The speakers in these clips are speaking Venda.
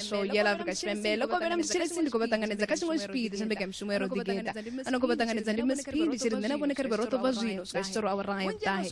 show ya love ka tshipembe ḽo kovhela mutshilisi ndi khou vha ṱanganedza kha tshiṅwe tshipiḓi tsha mbekanyamushumo ya roḓigeta ano khou vha ṱanganedza ndi mspidi tshi ri nṋe na vhone kha ri vhe ro ṱobva zwino swika tshi tsoro awara ya vhuṱahe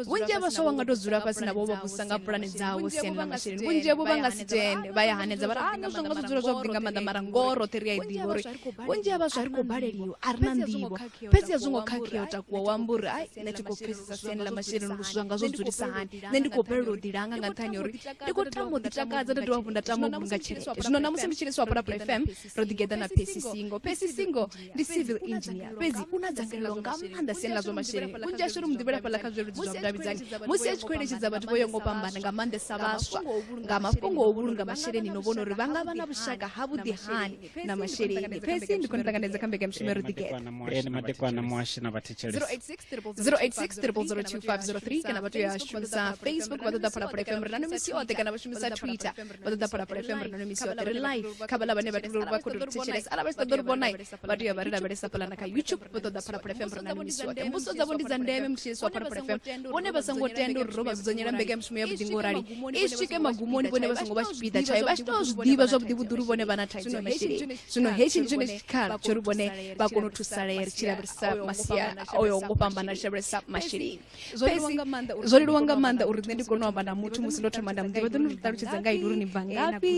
vhunzhi ha vhaswa vha nga tou dzula fhasi navho vha vhusa nga pulane dzavho siani ḽa masheleni vhunzhi havho vha nga si tende vha ya hanedza vha ri ana zwo nga zwo dzula zwavhuḓi nga maanḓa mara ngoho roṱhe ri a i ḓivha uri vhunzhi ha vhaswa ri khou baleliwa a ri na nḓivho fhedzi a zwo ngo khakhea u takuwa wa amba uri ai nṋe thi khou pfesesa siani ḽa masheleni uri zwithu zwanga zwo dzulisa hani nṋe ndi khou balelwa u ḓilanga nga nṱhani uri ndi khou tama u ḓitakadza nda dovha hafhu nda tama u vhulunga tshelede zwino namusi ndi tshi liswa pulapula fm ro ḓigeḓa na pesi singo pesi singo ndi civil engineer fhedzi u na dzangalelo nga maanḓa siani ḽa zwa masheleni vhunzhi ashu ri muḓivhela fhaḽa kha zwileludzi zwa vhudavhidzani musi a tshi khou eletshedza vhathu vho yo ngo fhambana nga maanḓesa vhaswa nga mafhungo o vhulunga masheleni no vhona uri vha nga vha na vhushaka ha vhuḓi hani na masheleni phesi ndi khou ni ṱanganedza kha mbekanyamushumo ro ḓigeḓa ni madekwana na muhashi na vhathetshelesi 086 kana vha tea ya shumisa facebook vha ṱoḓa phalaphala fm ri na no misi oṱhe kana vha shumisa twitter vha ṱoḓa phalaphala fm ri na no misi oṱhe ri live kha vhala vhane vha tea vha khou tou thetshelesa ala vha tshi ṱoḓa uri vhonai vha tea vha ri lavhelesa phalana kha youtube vha ṱoḓa phalaphala fm ri na no misi oṱhe mbuso dzavho ndi dza ndeme mutshilisi wa phalaphala fm vhone vha songo tenda uri ro vha dzudzanyela mbekanyamushumo ya vhuḓingo rali i swike magumoni vhone vha songo vha tshipiḓa tshayo vha tshi tou zwi ḓivha zwavhuḓi vhuḓi uri vhone vha na thaidzo ya masheleni zwino hetshi ndi tshone tshikhala tsho ri vhone vha kone u thusalea ri tshi lavhelesa masia oyo ngo fhambana ri tshi lavhelesa masheleni fhedzi zwo leluwa nga maanḓa uri nṋe ndi kone u amba na muthu musi ndo thoma nda muḓivha ḓo ni ri ṱalutshedza nga ini uri ni bva ngafhi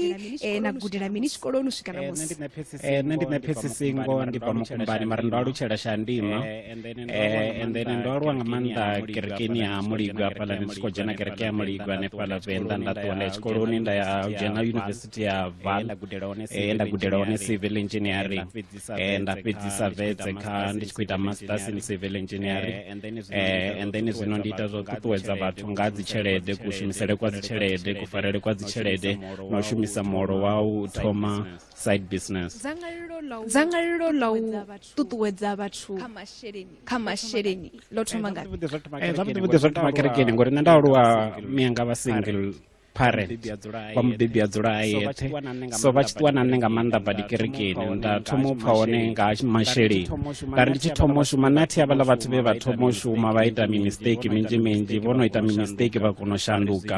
na gudela mini tshikoloni u swika na musi nṋe ndi mephetsisingo ndi bva mukumbani mara ndo alutshela shandima eh, and then ndo aluwa nga maanḓa kerekeni ya muligo hafhaḽa ndi tshi khou dzhena kereke ya muligo hanefhaḽa venḓa nda ṱuwa nda ya tshikoloni nda ya dzhena yunivesithi ya val eh, nda gudela hone civil engineering eh, nda fhedzisa vetse kha ndi tshi khou ita masters in civil engineering and then zwino ndi ita zwa u ṱuṱuwedza vhathu nga dzi tshelede kushumisele kwa dzi tshelede kufarele kwa dzi tshelede na u shumisa muholo wa u thoma side business dzangalelo ḽa u ṱuṱuwedza vhathu kha masheleni ḽo thoma eh, ngazwavhuḓi zwa thoma kerekeni ngori nṋe nda aluwa mianga vha single parent wa mubebi a dzula a yeṱhe so vha tshi ṱuwa na nṋe nga maanḓa badi kerekeni nda thoma u pfha hone nga masheleni nda ri ndi tshi thoma u shuma nṋe athi havhaḽa vhathu vhe vha thoma u shuma vha ita mimistake minzhi minzhi vho no ita mimistake vha kona u shanduka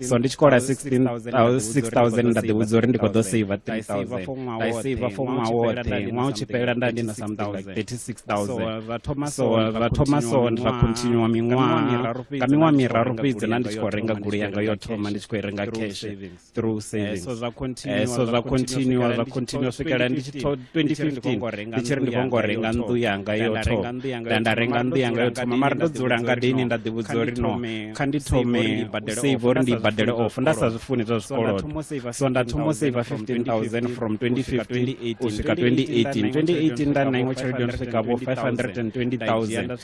so ndi tshi kola 6000 nda ḓivhudza uri ndi khou ḓo saver 3000 nda i saver for ṅwaha woṱhe ṅwaha u tshi fhelela nda ndi na something like 36000 so ra thoma so ra continua miṅwaha nga miṅwaha miraru fhedzi na ndi tshi khou renga gulu yanga yo thoma ndi tshi khou i renga cash through savings eh, so zwa continua zwa continua swikela ndi tshi 2015 ndi tshi ri ndi khongo renga nnḓu yanga yo thoma nda nda renga nnḓu yanga yo thoma mara ndo dzula ngadini nda ḓivhudza uri no kha ndi thome save uri ndi badele off nda sa zwi funi zwa zwikolodo so nda thoma u save 15000 from 2015 u swika 2018 2018 nda na iṅwe tshelede yo swika vho 520000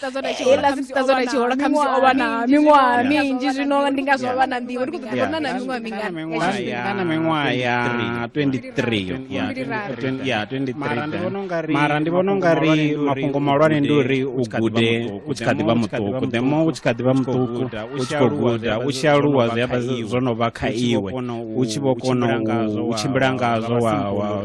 tazonachihola khamusi o vha na miṅwaha minzhi zwino ndi nga zwo vha na nḓivho ndi khou ḓo vhona na miṅwaha mingana miṅwaha ya 23mara ndi vhona ungari mafhungo mahulwane ndi uri u gude u tshi kha ḓi vha muṱuku the more u tshi kha ḓi vha muṱuku u tshi khou guda u tshi aluwa zwi amba zwo no vha kha iwe u tshi vho kona u tshimbila ngazwo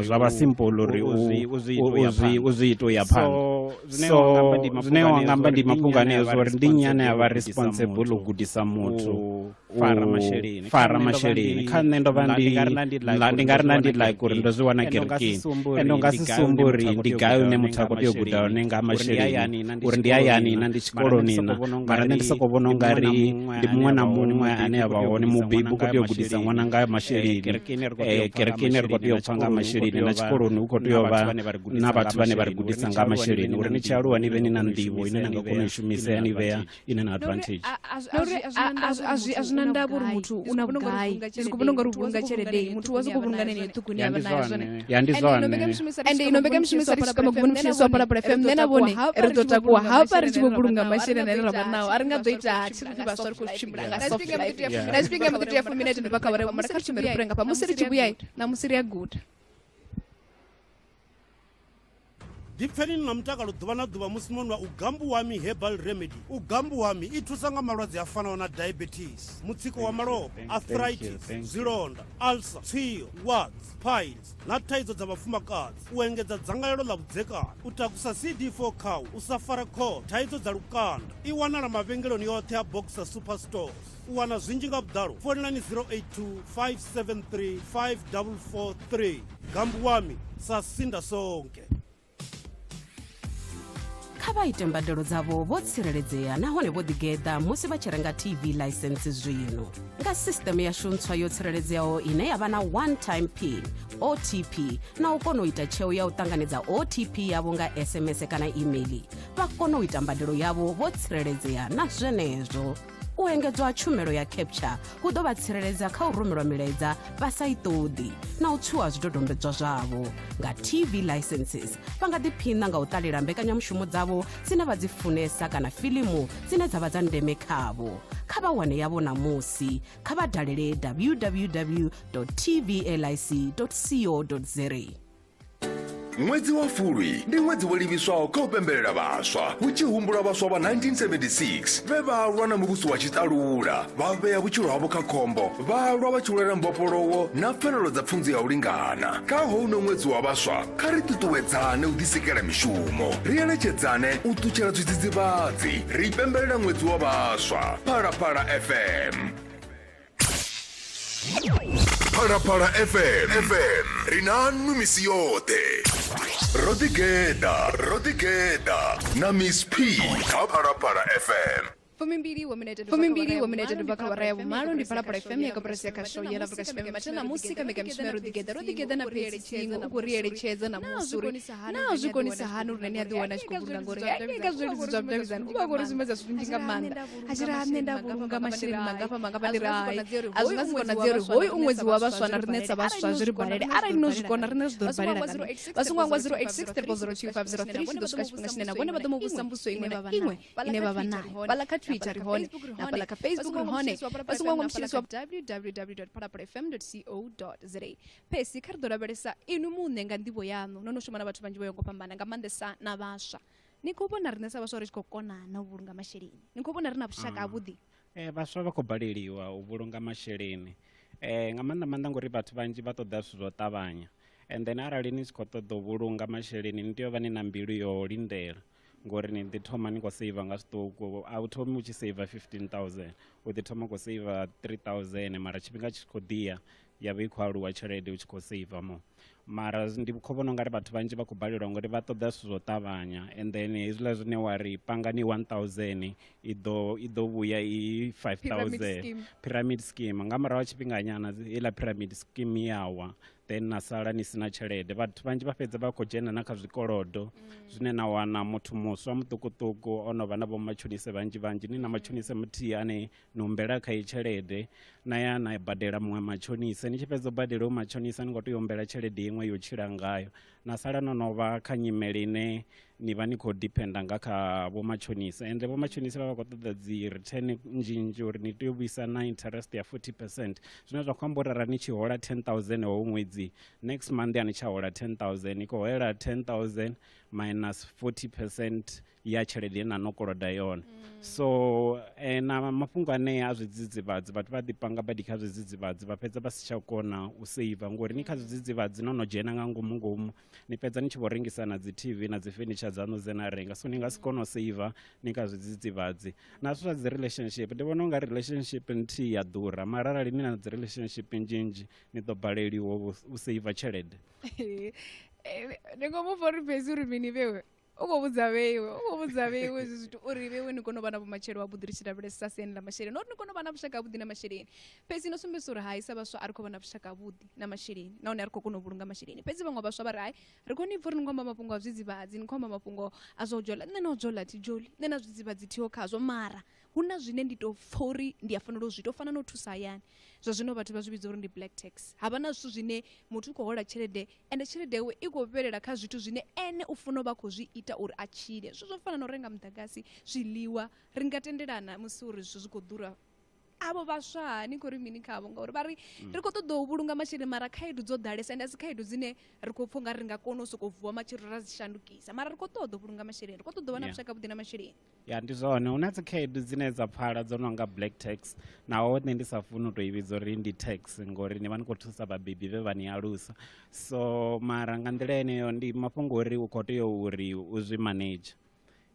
zwa vha simple uri u zwi ita u ya phanḓa so zwine wa nga amba ndi mafhungo aneo zwa uri ndi nnyi ane a vha responsible u gudisa muthu fara masheleni kha nṋe ndo vha ndi nga ri na ndi like uri ndo zwi wana kerekeni ende u nga si sumbe uri ndi gai une muthu a khou tea u guda hone nga masheleni uri ndi hayani na ndi tshikoloni na mara nṋe ndi sokou vhona u nga ri ndi muṅwe na muṅwe ane a vha hone mubebi u khou tea u gudisa ṅwana nga masheleni kerekeni ri khou tea u pfa nga masheleni na tshikoloni u khou tea u vha na vhathu vhane vha ri gudisa nga masheleni uri ni tshi aluwa ni vhe ni na nḓivho ine na nga kona u shumisa ya ni vhea ine na advantage a zwi na ndavha uri muthu u na vhugai ndi khou vhona ungari u vhulunga tshelede muthu wa sokou vhulunga nene ṱhukuni avha nayo zwone ya ndi zwone ende ino mbekanyamushumo isa ritshi kama gumuni mushumo sa palapala fm nṋe na vhone ri ḓo takuwa hafha ri tshi vho vhulunga masheleni ane ra vha nao a ri nga ḓo ita hatshi ri vhaswa ri khou tshimbila nga soft life na tshifhinga mbo ḓi tea fumi na itendoba kha vhare mara kha ri tshimbile ri renga fha musi ri tshi vhuya na musi ri a guda ḓipfeni ni na mutakalo ḓuvha na ḓuvha musi no nwa u gambu wami herbal remedy u gambu wami i thusa nga malwadze a fanaho na diabetes mutsiko wa malofha arthritis zwilonda ulcer tswio wards piles na thaidzo dza vhafumakadzi u engedza dzangalelo ḽa vhudzekani u takusa cd4 khawu u sa fara khothe thaidzo dza lukanda i wanala mavhengeloni yoṱhe a boxer super stores U wana zwinzhi nga vhuḓalo founelani 082 573 5443. Gambu wami sa sinda sonke. kha vha ite mbadelo dzavho vho tsireledzea nahone vho ḓigeḓa musi vha tshi renga tv ḽaisentsi zwino nga sisteme yashu ntswa yo tsireledzeaho ine ya vha na one time pin otp na u kona u ita tsheo ya u ṱanganedza otp yavho nga sms kana email vha kona u ita mbadelo yavho vho tsireledzea na zwenezwo u engedzwa ha tshumelo ya capture hu ḓo vha tsireledza kha u rumelwa milaedza vha sa i ṱoḓi na u tswiwa zwidodombedzwa zwavho nga tv licenses vha nga ḓiphiṋa nga u ṱalela mbekanyamushumo dzavho dzine vha dzi funesa kana filimu dzine dza vha dza ndeme khavho kha vha wane yavho ṋamusi kha vha dalele www tv lic co za ṅwedzi wa fulwi ndi ṅwedzi wo livhiswaho kha u pembelela vhaswa hu tshi humbulwa vhaswa vha 1976 vhe vha lwa na muvhuso wa tshiṱalula vha vhea vhutshilo havho kha khombo vha lwa vha tshi lwela mbofholowo na pfanelo dza pfunzo ya u lingana kha houno ṅwedzi wa vhaswa kha ri ṱuṱuwedzane u ḓisikela mishumo ri eletshedzane u ṱutshela zwidzidzivhadzi ri pembelela ṅwedzi wa vhaswa phalaphala fm phalaphala fm fm ri nanu misi yoṱhe ro ḓigeḓa ro ḓigeḓa na miss p kha phalaphala fm fumimbili wa minete fumimbili wa minete dubva kha awara ya vhumalo ndi phalaphala fm ya kaporasi ya khasho yela afurika tshipembe mathe namusi kha mbekanyamushumo ya roḓigeḓa roḓigeḓa na phesisingo u khou ri eletshedza namusi uri naa zwi konisa hani uri nani a ḓiwana a tshi khou vhulunga ngori ya nyeka zwileludzi zwa vhudavhidzani u vha khou ri sumbedza zwinzhi nga maanḓa hachira nne nda vhulunga masheleni mangafha mangafha ndi rai a zwi nga si konadzeo ri hoyu ṅwedzi wa vhaswa na riṋe sa vhaswa zwi ri balele arali no zwi kona riṋe zwi ḓo ri balela kana vha songo angwa 086 302 tshi ḓo swika tshifhinga tshine na vhone vha ḓo mu vhusa mbuso iṅwe na iṅwe ine vha vha nayo fhaḽa kha twitter ri hone na fhaḽa kha facebook ri hone vha songo angwa mutshilisi wa www phalapalafm co za phesi kha ri ḓo lavhelesa inwi muṋe nga nḓivho yaṋu no no shuma na vhathu vhanzhi vho yo ngo fhambana nga maanḓesa na vhaswa ni khou vhona riṋe sa vhaswa ri tshi khou kona na u vhulunga masheleni ni khou vhona ri na vhushaka ah. havhuḓi um vhaswa vha khou baleliwa u vhulunga masheleni um nga maanḓa maanḓa ngori vhathu vhanzhi vha ṱoḓa zwithu zwo ṱavhanya and then arali ni tshi khou ṱoḓa u vhulunga masheleni ni tea u vha ni na mbilu yo lindela ngori ni ḓi thoma ni khou seiva nga zwiṱuku a u thomi u tshi seiva 15000 u ḓi thoma khou seiva 3000 mara tshifhinga tshi khou ḓiya ya vha i khou aluwa tshelede u tshi khou seiva mo mara ndi khou vhona ungari vhathu vhanzhi vha khou balelwa ngori vha ṱoḓa zwithu zwo ṱavhanya and then hezwiḽa zwine wa ri pangani one thousand i ḓo i ḓo vhuya i five thousand pyramid scheme nga murahu ha tshifhinganyana heiḽa pyramid scheme yawa then na sala ni sina tshelede vhathu vhanzhi vha fhedza vha khou dzhena na kha zwikolodo mm. zwine na wana muthu muswa muṱukuṱuku o no vha na vhomatshonise vhanzhi vhanzhi ni na mm. matshonise muthihi ane ni humbela kha i tshelede na ya na badela muṅwe matshonisa ni tshi fhedza u badela u matshonisa ni khou tea u humbela tshelede iṅwe yo tshila ngayo na sala no no vha kha nyimele ine ni vha ni khou dependa nga kha vhomatshonisa ende vhomatshonisa vha vha khou ṱoḓa dzi return nnzhi nnzhi uri ni tea u vhuisa na interest ya 40 percent zwine zwa khou amba uri ara ni tshi hola 10000 howo ṅwedzi next month a ni tsha hola 10000 ni khou holela 10000 minus 40 percent ya tshelede ine na no koloda yone mm. so eh, na mafhungo anea a zwidzidzivhadzi vhathu vha ḓipanga badi kha zwidzidzivhadzi vha fhedza vha si tsha kona u seiva ngori ni kha mm. zwidzidzivhadzi no no dzhena nga ngomu ngomu ni fhedza ni tshi vho rengisa na dzi tv na dzi furniture dzaṋu dze na renga so ni nga si mm. kona u seiva ni kha zwidzidzivhadzi na zwithu zwa dzi relationship ndi vhona unga relationship nthihi ya ḓura mara arali ni na dzi relationship nzhinzhi ni ḓo baleliwa u seiva tshelede eh, ni ngo mu fori fhedzi uri mini vhewe u khou vhudza vheiwe u khou vhudza vheiwe zwi zwithu uri vheiwe ni kone u vha na vhumatshelo ha vhuḓi ri tshi lavhelesa siani ḽa masheleni uri ni kone u vha na vhushaka havhuḓi na masheleni fhedzi no sumbedzisa uri hai sa vhaswa a ri khou vha na vhushaka havhuḓi na masheleni nahone a ri khou kona u vhulunga masheleni fhedzi vhaṅwe vhaswa vha ri hai ri khou ni pfa uri ni khou amba mafhungo a zwidzivhadzi ni khou amba mafhungo a zwa u jola nṋe na u jola thi joli nṋe na zwidzivhadzi thiho khazwo mara hu na zwine ndi tou pfha uri ndi a fanela u zwi tou fana na u thusa hayani zwa zwino vhathu vha zwi vhidza uri ndi black tax ha vha na zwithu zwine muthu u khou hola tshelede ende tshelede yawe i khou fhelela kha zwithu zwine ene u funa u vha khou zwi ita uri a tshile zwithu zwo fana na u renga muḓagasi zwiḽiwa ri nga tendelana musi uri zwithu zwi khou ḓura avho vhaswa ni khou ri mini khavho ngauri vha ri mm. ri khou ṱoḓa u vhulunga masheleni mara khaedu dzo ḓalesa ende a si khaedu dzine ri khou pfha nga ri nga kona u sokou vuwa matshelo ra dzi shandukisa mara ri khou ṱoḓa u vhulunga masheleni ri khou ṱoḓa u vha na vhushaka vhuḓi na masheleni ya ndi zwone hu na dzikhaedu dzine dza pfala dzo no nga black tax naho nṋe ndi sa funi u tou i vhidza uri ndi tax ngori ni vha ni khou thusa vhabebi vhe vha ni alusa so mara nga nḓila yeneyo ndi mafhungo uri u khou tea uri u zwi manage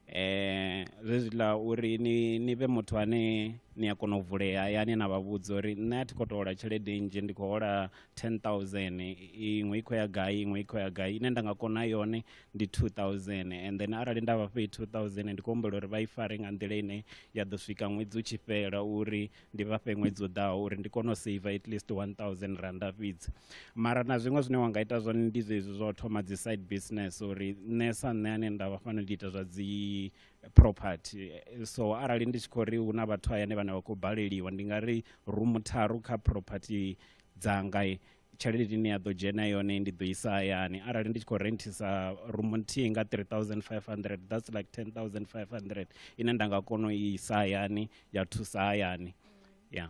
eh zwezwiḽa uri ni ni vhe muthu ane ni a kona u vulea hayani na vha vhudza uri nṋe a thi khou tou hola tshelede nnzhi ndi khou hola ten thousand iṅwe i khou ya gai iṅwe i khou ya gai ine nda nga kona yone ndi 2000 and then arali nda vha fhe 2000 ndi khou humbela uri vha i fare nga nḓila ine ya ḓo swika ṅwedzi u tshi fhela uri ndi vha fhe ṅwedzi u ḓaho uri ndi kone u save at least 1000 randa fhedzi mara na zwiṅwe zwine wa nga ita zwone ndi zwezwi zwa u thoma dzi side business uri nṋe sa nṋe ane nda vha fano ndi ita zwa dzi property so arali ndi tshi khou ri hu na vhathu hayani vhane vha khou baleliwa ndi nga ri rumu tharu kha property dzanga tshelede ine ya ḓo dzhena yone ndi ḓo isa hayani arali ndi tshi khou renthisa room nthihi nga 3500 that's like 10500 ine nda nga kona u isa hayani ya thusa hayani ya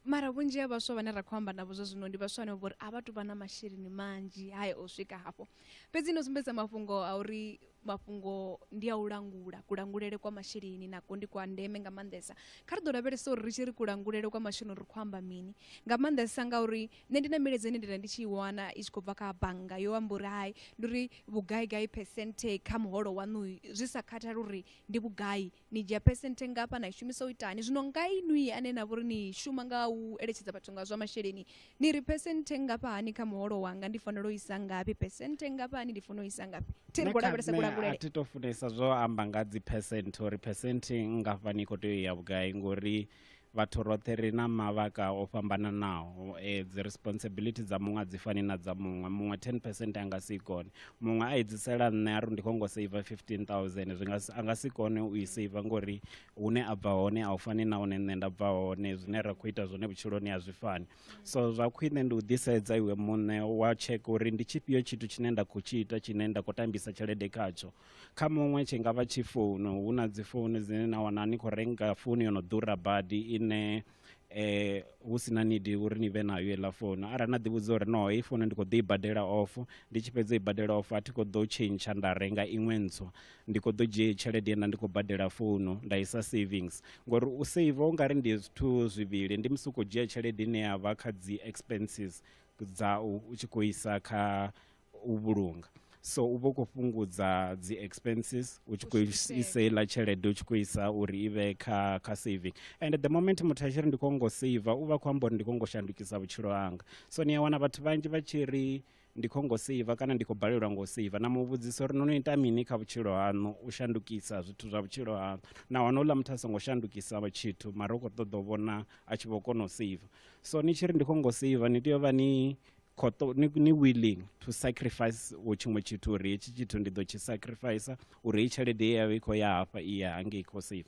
mara vhunzhi ha vhaswa vhane ra khou amba navho zwa zwino ndi vhaswa vhane vhori a vha tu vha na masheleni manzhi hae o swika hafho fhedzi no sumbedza mafhungo a uri mafhungo ndi a u langula kulangulele kwa masheleni nako ndi kwa ndeme nga maanḓesa kha ri ḓo lavhelesa uri ri tshi ri kulangulele kwa masheleni ri khou amba mini nga maanḓesa ngauri nṋe ndi na milaedza ine ndi nda ndi tshi i wana i tshi khou bva kha bannga yo amba uri hai ndi uri vhugaigai percente kha muholo waṋu zwi sa khathali uri ndi vhugai ni dzhia phesenthe ngafha na i shumisa u itani zwino nga inwi ane na vhori ni shuma nga u eletshedza vhathu nga zwa masheleni ni ri phesenthe ngafha hani kha muholo wanga ndi fanela u isa ngafhi phesenthe ngafha hani ndi fanela u isa ngafhi thi ri khou lavhelesa kulangulele thi to funesa zwo amba nga dzi phesenthe uri phesenthe ngafhani i khou tea u ya vhugai ngori vhathu roṱhe ri na mavhaka o fhambananaho eh, dzi responsibility dza muṅwe a dzi fani na dza muṅwe muṅwe 10 percent a nga si kone muṅwe a edzisela nṋe a ri ndi khou ngo seiva 15000 zwi a nga si kone u i seiva ngori hune a bva hone a u fani na hune nṋe nda bva hone zwine ra khou ita zwone vhutshiloni a zwi fani so zwa khwine ndi u ḓisedza iwe muṋe wa tsheka uri ndi tshifhio tshithu tshine nda khou tshi ita tshine nda khou tambisa tshelede khatsho kha muṅwe tshi nga vha tshi founu hu na dzi founu dzine na wana ni khou renga founu yo no ḓura badi ine eh hu si na nidi uri ni vhe nayo heiḽa founu arali na ḓivhudza uri no heyi founu ndi khou ḓo i badela off ndi tshi fhedza i badela off a thi khou ḓo tshentsha nda renga iṅwe ntswa ndi khou ḓo dzhia tshelede ye nda ndi khou badela founu nda isa savings ngori u save u nga ri ndi zwithu zwivhili ndi musi u khou dzhia tshelede ine ya vha kha dzi expenses dza u tshi khou isa kha u vhulunga so u vha u khou fhungudza dzi expenses u tshi khou isa iḽa tshelede u tshi khou isa uri i vhe kha kha saving and the moment muthu a tshi ri ndi khou ngo seiva u vha khou amba uri ndi khou ngo shandukisa vhutshilo hanga so ni a wana vhathu vhanzhi vha tshi ri ndi khou ngo seiva kana ndi khou balelwa ngo seiva na muvhudzisa uri no no ita mini kha vhutshilo haṋu u shandukisa zwithu zwa vhutshilo haṋu na wana uḽa muthu a songo shandukisa tshithu mara u khou ṱoḓa u vhona a tshi vho kona u seiva so ni tshi ri ndi khou ngo seiva ni tea u vha ni khoto ni, ni willing to sacrifice wo tshiṅwe tshithu uri hetshi tshithu ndi ḓo tshi sacrifice uri hei tshelede ye yavha i khou ya hafha i ya hangei khou save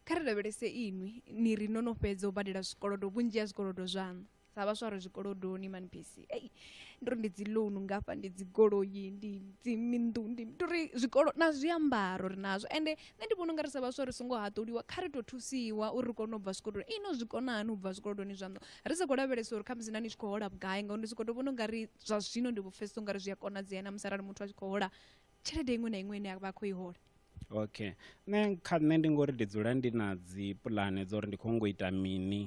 kha ri lavhelese inwi ni ri no no fhedza u badela zwikolodo vhunzhi ha zwikolodo zwaṋu sa vhaswa ri zwikolodoni manpisi ei ndi ri ndi dzi loan ngafha ndi dzi goloi ndi dzi minnḓu ndi ndi ri zwikolo na zwiambaro ri nazwo ende nṋe ndi vhona unga ri sa vhaswa ri songo haṱuliwa kha ri tou thusiwa uri ri kone u bva zwikolodoni ino zwi kona hani u bva zwikolodoni zwaṋu Ri sa khou lavhelesa uri khamusi na ni tshi khou hola vhugai ngauri ndi tshi khou tou vhona ungari zwa zwino ndi vho pfhesesa ungari zwi a konadzea na musi arali muthu a tshi khou hola tshelede iṅwe na iṅwe ine a vha a khou i hola okay nṋe kha nṋe ndi ngori ndi dzula ndi na dzi pulane dza uri ndi khou ngo ita mini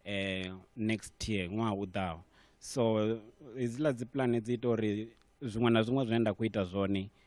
eh next year ṅwaha u ḓaho so hedziḽa dzi pulane dzi ita uri zwiṅwe na zwiṅwe zwine nda khou ita zwone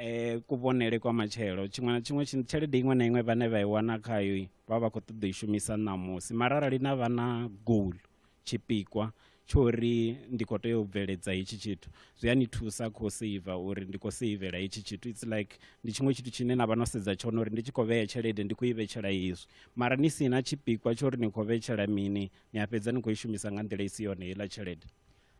e, kuvhonele kwa matshelo tshiṅwe na tshiṅwe tshelede iṅwe na iṅwe vhane vha i wana khayo vha vha khou ṱoḓa i shumisa ṋamusi mara arali na vha na goal tshipikwa tsho uri ndi khou tea u bveledza hetshi tshithu zwi a ni thusa khou seiva uri ndi khou seivela hetshi tshithu its like ndi tshiṅwe tshithu tshine na vha no sedza tshone uri ndi tshi khou vhea tshelede ndi khou i vhetshela hezwi mara ni si na tshipikwa tsho uri ni khou vhetshela mini ni a fhedza ni khou i shumisa nga nḓila i si yone heiḽa tshelede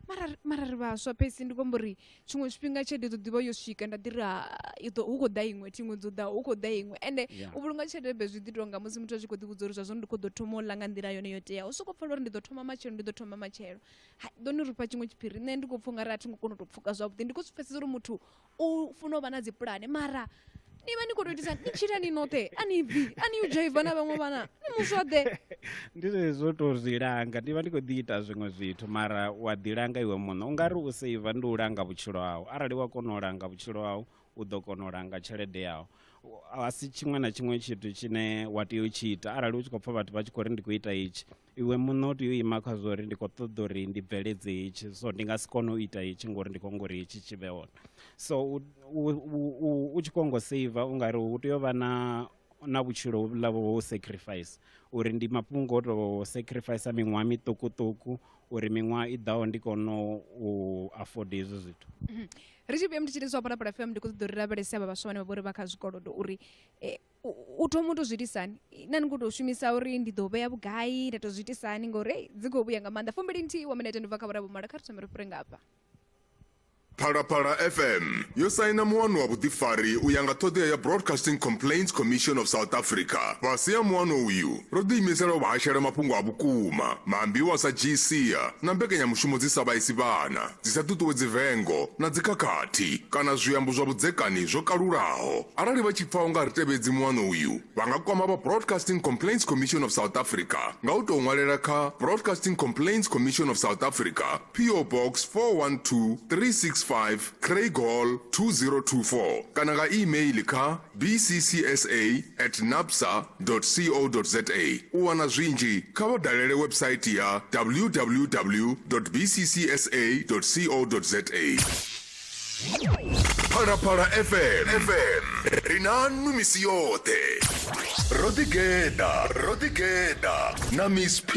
mara ri- mara ri vhaswa fhedzi ndi khou amba uri tshiṅwe tshifhinga tshelede ḓo ḓivha yo swika nda ḓi ri ha i ḓo- hu khou ḓa iṅwe thiṅwe dzo ḓa hu khou ḓa iṅwe ende Yeah. u vhulunga tshelede be zwi ḓi tonga musi muthu a tshi khou ḓi vhudza uri zwa zwino ndi khou ḓo thoma u ḽa nga nḓila yone yo teaho u sokou pfela uri ndi ḓo thoma matshelo ndi ḓo thoma matshelo Ha, ḓo ni rifha tshiṅwe tshiphiri nṋe ndi khou pfha ungari a thi ngo kona u tou pfuka zwavhuḓi ndi khou zwi pfhesesa uri muthu u funa u vha na dzipulane mara ni vha ni khou tou itisa ni tshila ni noṱhe a ni bvi a ni u dzhaiva na vhaṅwe vhana ni muswaḓe ndi zwezwo tou zwi langa ndi vha ndi khou ḓi ita zwiṅwe zwithu mara wa ḓi langa iwe muṋe u nga ri u seiva ndi u langa vhutshilo hau arali wa kona u langa vhutshilo hau u ḓo kona u langa tshelede yau a si tshiṅwe na tshiṅwe tshithu tshine wa tea u tshi ita arali u tshi khou pfha vhathu vha tshi khou ri ndi khou ita itshi iwe muṋe u tea u ima kha zwo uri ndi khou ṱoḓa uri ndi bveledze hetshi so ndi nga si kone u ita hetshi ngori ndi khou ngo uri hetshi tshi vhe hone so u tshi khou ngo saver u nga ri hu tea u vha na na vhutshilo hovhuḽa vho u sacrifice uri ndi mafhungo o tou sacrifice miṅwaha miṱukuṱuku uri miṅwaha i ḓaho ndi kone u afforda hezwi zwithu mm-hmm. ri tshi vhuya ndi tshi ri zwa phalaphala fm ndi khou ṱoḓa uri lavhelese avha vhaswa vhane vha vha uri vha kha zwikolodo uri eh, u thoma u to zwi itisani na ni khou tou shumisa uri ndi ḓo vhea vhugai nda tou zwi itisani ngori ei dzi khou vhuya nga maanḓa fumbili nthihi wa minete ndi bva kha vhora vhumalo kha ri thome ri fhire ngafha Phalaphala FM yo saina muano wa vhuḓifari u ya nga ṱhoḓea ya Broadcasting Complaints Commission of South Africa. Fhasi ha muano uyu, ro ḓiimisela u vha hashela mafhungo a vhukuma, maambiwa sa GCA na mbekanyamushumo dzi sa vhaisi vhana. dzi sa ṱuṱuwedzi vengo na dzikhakhathi kana zwiambo zwa vhudzekani zwo kalulaho arali vha tshi pfa u nga ri tevhedzi muano uyu vha nga kwama vha broadcasting complaints commission of south africa nga u tou ṅwalela kha broadcasting complaints commission of south africa po box 412365 craig hall 2024 kana nga email kha bccsa at nabsa co za U wana zwinzhi, kha vha dalele website ya www bccsa co za. Phalaphala FM, ri na nnu misi yoṱhe. Ro ḓigeḓa, ro ḓigeḓa na Miss P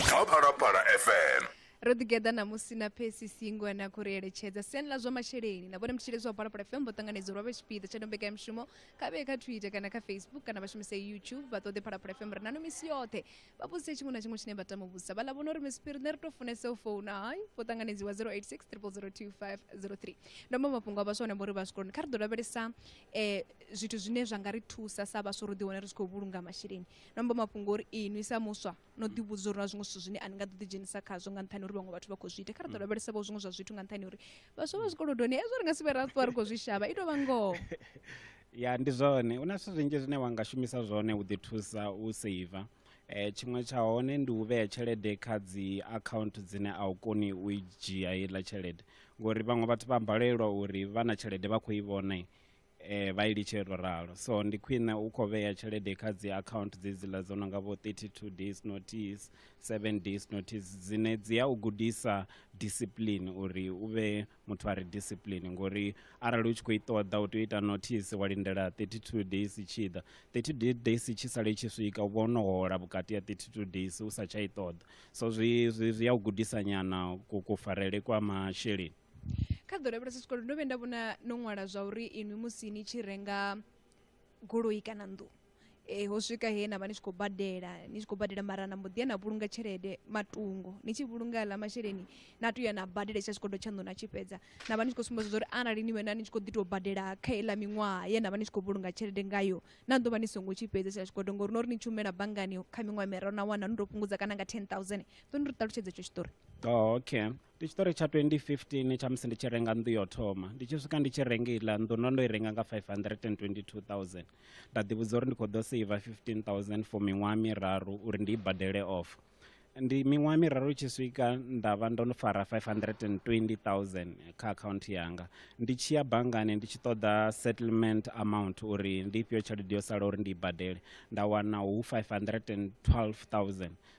kha Phalaphala FM. ro ḓigeḓa ṋamusi na phesi singo na khou ri eletshedza siani ḽa zwa masheleni na vhone mutshilezi wa phalaphala fm vho ṱanganedza uri vha vhe tshipiḓa tsha ndombekanyamushumo kha vheye kha twitter kana kha facebook kana vha shumise youtube vha ṱoḓe phalaphala fm ri nano misi yoṱhe vha vhudzise tshiṅwe na tshiṅwe tshine vha tama u vhudzisa vha ḽa vhona uri misipiri nṋe ri tou funesa u founa hai vho ṱanganedziwa 086 002503 ndo mba mafhungo a vhaswa hone vho ri vha zwikoloni kha ri ḓo lavhelesa eh, zwithu zwine zwa nga ri thusa sa vhaswa uri ḓi wane ri tshi khou vhulunga masheleni ndo mba mafhungo uri inwi sa muswa no ḓi vhudza uri na zwiṅwe zwithu zwine a ni nga ḓo ḓi dzhenisa khazwo nga nṱhani uri vhaṅwe vhathu vha khou zwi ita kha ri ḓo lavhelesa vho zwiṅwe zwa zwithu nga nṱhani uri vhaswa vha zwikolodoni hezwo ri nga si vhe ra ṱuwa ri khou zwi shavha i tou vha ngoho ya ndi zwone hu na zwithu zwinzhi zwine wa nga shumisa zwone u ḓi thusa u seiva eh tshiṅwe tsha hone ndi u vhea tshelede kha dzi account dzine a u koni u i dzhia heiḽa tshelede ngori vhaṅwe vhathu vha balelwa uri vha na tshelede vha khou i vhona eh, vha i litshe ro ralo so ndi khwine u khou vhea tshelede kha dzi account dzedziḽa dzo no nga vho 32 days notice 7 days notice dzine dzi ya u gudisa discipline uri u vhe muthu a re discipline ngori arali u tshi khou i ṱoḓa u tea u ita notice wa lindela 32 days i tshi ḓa 32 days i tshi sala i tshi swika u vha ono hola vhukati ya 32 days u sa tsha i ṱoḓa so zwi zwi zwi ya u gudisa nyana kufarele kwa masheleni kha ḓorobo ra sikolo ndo vhuya nda vhona no ṅwala zwa uri inwi musi ni tshi renga goloi kana nnḓu eh, ho swika he na vha ni tshi khou badela ni tshi khou badela mara na mbo ḓi ya na vhulunga tshelede matungo ni tshi vhulunga aḽa masheleni na tou ya na badela tsha tshikodo tshaṋu na tshi fhedza na vha ni tshi khou sumbedza zwa uri arali ni wena ni tshi khou ḓi tou badela kha iḽa miṅwaha ye na vha ni tshi khou vhulunga tshelede ngayo na ḓo vha ni songo tshi fhedza tsha tshikodo ngori no ri ni tshumela banngani kha miṅwaha miraru na wana no tou fhungudza kana nga 10000 ḓo ni ri ṱalutshedza etsho tshiṱori oh, okay ndi tshiṱori tsha 2015 tsha musi ndi tshi renga nnḓu yo thoma ndi tshi swika ndi tshi renga iḽa nnḓu ndo ndo i renga nga 522000 nda ḓivhudza uri ndi khou ḓo seiva 15000 for miṅwaha miraru uri ndi i badele off ndi miṅwaha miraru i tshi swika nda vha ndo no fara 520000 kha akhaunthu yanga ndi tshi ya banngani ndi tshi ṱoḓa settlement amount uri ndi ifhio tshelede yo sala uri ndi i badele nda wana hu 512000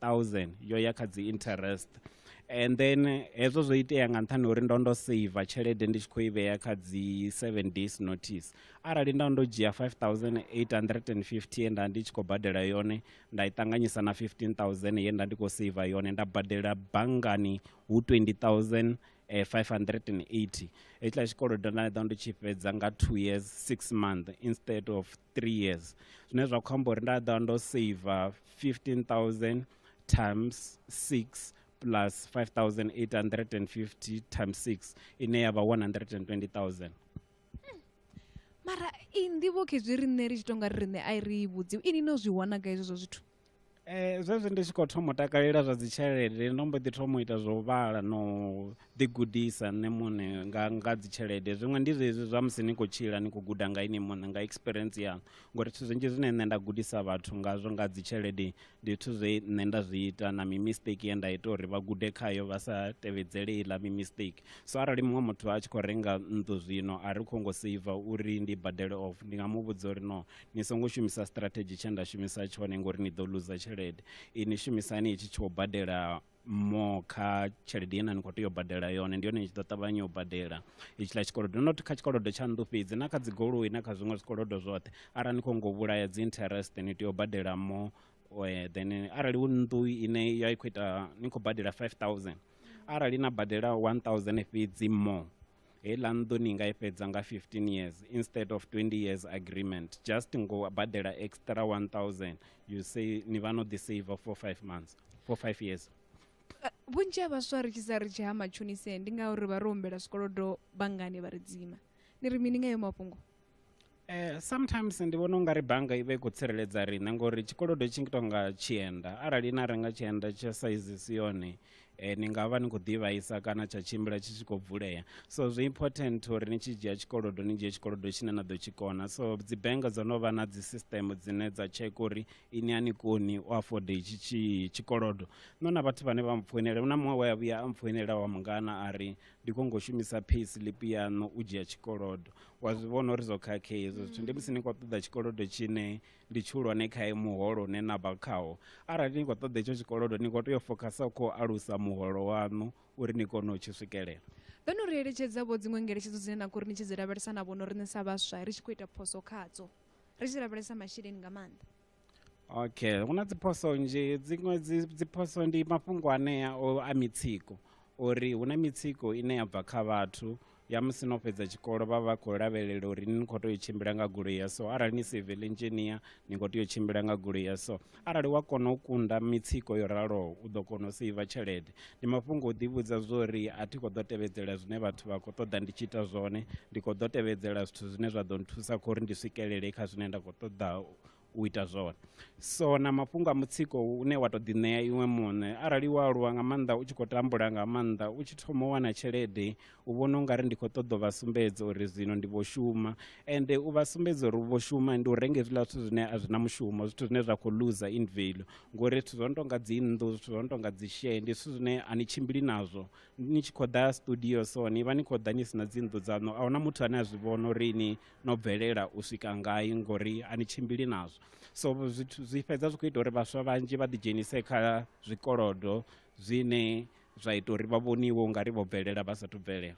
1000 yo ya kha dzi interest and then hezwo zwo itea nga nṱhani uri ndo ndo saver tshelede ndi tshi khou i vhea kha dzi seven days notice arali nda ndo dzhia 5850 ye nda ndi tshi khou badela yone nda i ṱanganyisa na 15000 ye nda ndi khou saver yone nda badela banngani hu 20000 eh, 580 hetshiḽa tshikolodo nda ḓa ndo tshi fhedza nga two years six month instead of three years zwine zwa khou amba uri nda ḓa ndo saver 15000 times 6 plus 5850 times 6 ine ya vha 120000 mara i nḓivho khezwi riṋe ri tshi tonga ri riṋe a i ri i vhudziwi ini no zwi wana ga hezwo zwa zwithu Eh, zwezwi ndi tshi khou thoma u takalela zwa dzitshelede ndo mbo ḓi thoma u ita zwo vhala no ḓigudisa nṋe muṋe nga nga dzitshelede zwiṅwe ndi zwezwi zwa musi ni khou tshila ni khou guda nga ini muṋe nga experience yanu ngori zwithu zwinzhi zwine nṋe nda gudisa vhathu ngazwo nga dzitshelede ndi zwithu zwe nṋe nda zwi ita na mimistake ye nda ita uri vha gude khayo vha sa tevhedzele iḽa mimistake so arali muṅwe muthu a tshi khou renga nnḓu zwino a ri khou ngo seiva uri ndi badele off ndi nga mu vhudza uri no ni songo shumisa strategy tshe nda shumisa tshone ngori ni ḓo luza tshelede ini shumisani itshi tsho badela mo kha tshelede ine ni khou tea u badela yone ndi yone ni tshi ḓo ṱavhanya u badela itshiḽa tshikolodo not kha tshikolodo tsha nnḓu fhedzi na kha dzigoloi na kha zwiṅwe zwikolodo zwoṱhe arali ni khou ngo vhulaya dzi interest ni tea u badela mo eh, then arali hu nnḓu ine ya i khou ita ni khou badela 5000 arali na badela 1000 fhedzi mo heiḽa nnḓu ni nga i fhedza nga 15 years instead of 20 years agreement just ngo badela extra 1000 you say ni vha no ḓi save for 5 months for 5 years eh, vhunzhi ha vhaswa ri tshi sa ri tshi ha matshonise ndi ngauri vha ri humbela zwikolodo banngani vha ri dzima ni ri mini nga yo mafhungo Eh, sometimes ndi vhona ungari bannga i vha i khou tsireledza riṋe ngori tshikolodo tshi ngi tonga tshienda arali na renga tshienda tsha saizi si yone eh, ni nga vha ni khou ḓivhaisa kana tsha tshimbila tshi tshi khou vulea so zwi important uri ni tshi dzhia tshikolodo ni dzhie tshikolodo tshine na ḓo tshi kona so dzi bannga dzo no vha na dzi system dzine dza check uri ini a ni koni u afode itshi tshikolodo no na vhathu vhane vha mpfoinela na muṅwe we a vhuya a mpfoinela wa mungana a ri ndi khou ngo shumisa pay slip yaṋu u dzhia tshikolodo wa zwi vhona uri zwo khakhea hezwo zwithu ndi musi ni khou ṱoḓa tshikolodo tshine ndi tshihulwane khae muholo une na vha khawo arali ni khou ṱoḓa etsho tshikolodo ni khou tea u fokhasa khou alusa muholo waṋu uri ni kone u tshi swikelela vhe no ri eletshedza vho dziṅwe ngeletshedzo dzine na khori ni tshi dzi lavhelesa na vhono riṋe sa vhaswa ri tshi khou ita phoso khadzo ri tshi lavhelesa masheleni nga maanḓa okay hu na dziphoso nzhi dziṅwe dziphoso ndi mafhungo anea o a mitsiko uri hu na mitsiko ine ya bva kha vhathu ya musi no fhedza tshikolo vha vha khou lavhelela uri ni khou tea u tshimbila nga goloi ya so arali ni civil engineer ni khou tea u tshimbila nga goloi ya so arali wa kona u kunda mitsiko yo raloho u ḓo kona u seiva tshelede ndi mafhungo o ḓivhudza zwo ri a thi khou ḓo tevhedzela zwine vhathu vha khou ṱoḓa ndi tshi ita zwone ndi khou ḓo tevhedzela zwithu zwine zwa ḓo nthusa kha uri ndi swikelele kha zwine nda khou ṱoḓa u ita zwone so na mafhungo a mutsiko une wa tou ḓiṋea iwe muṋe arali wa aluwa nga maanḓa u tshi khou tambula nga maanḓa u tshi thoma u wana tshelede u vhona u nga ri ndi khou ṱoḓa u vha sumbedza uri zwino ndi vho shuma ende u vha sumbedza uri u vho shuma ndi u renga hezwiḽa zwithu zwine a zwi na mushumo zwithu zwine zwa khou luza in value ngori zwithu zwo no tou nga dzi nnḓu zwithu zwo no tou nga dzi share ndi zwithu zwine a ni tshimbili nazwo ni tshi khou ḓa studio so ni vha ni khou ḓa ni si na dzi nnḓu dzaṋu a huna muthu ane a zwi vhona uri ni no bvelela u swika ngai ngori a ni tshimbili nazwo so zwithu zwi fhedza zwi khou ita uri vhaswa vhanzhi vha ḓidzhenise kha zwikolodo zwine zwa ita uri vha vhoniwe u nga ri vho bvelela vha sathu bvelela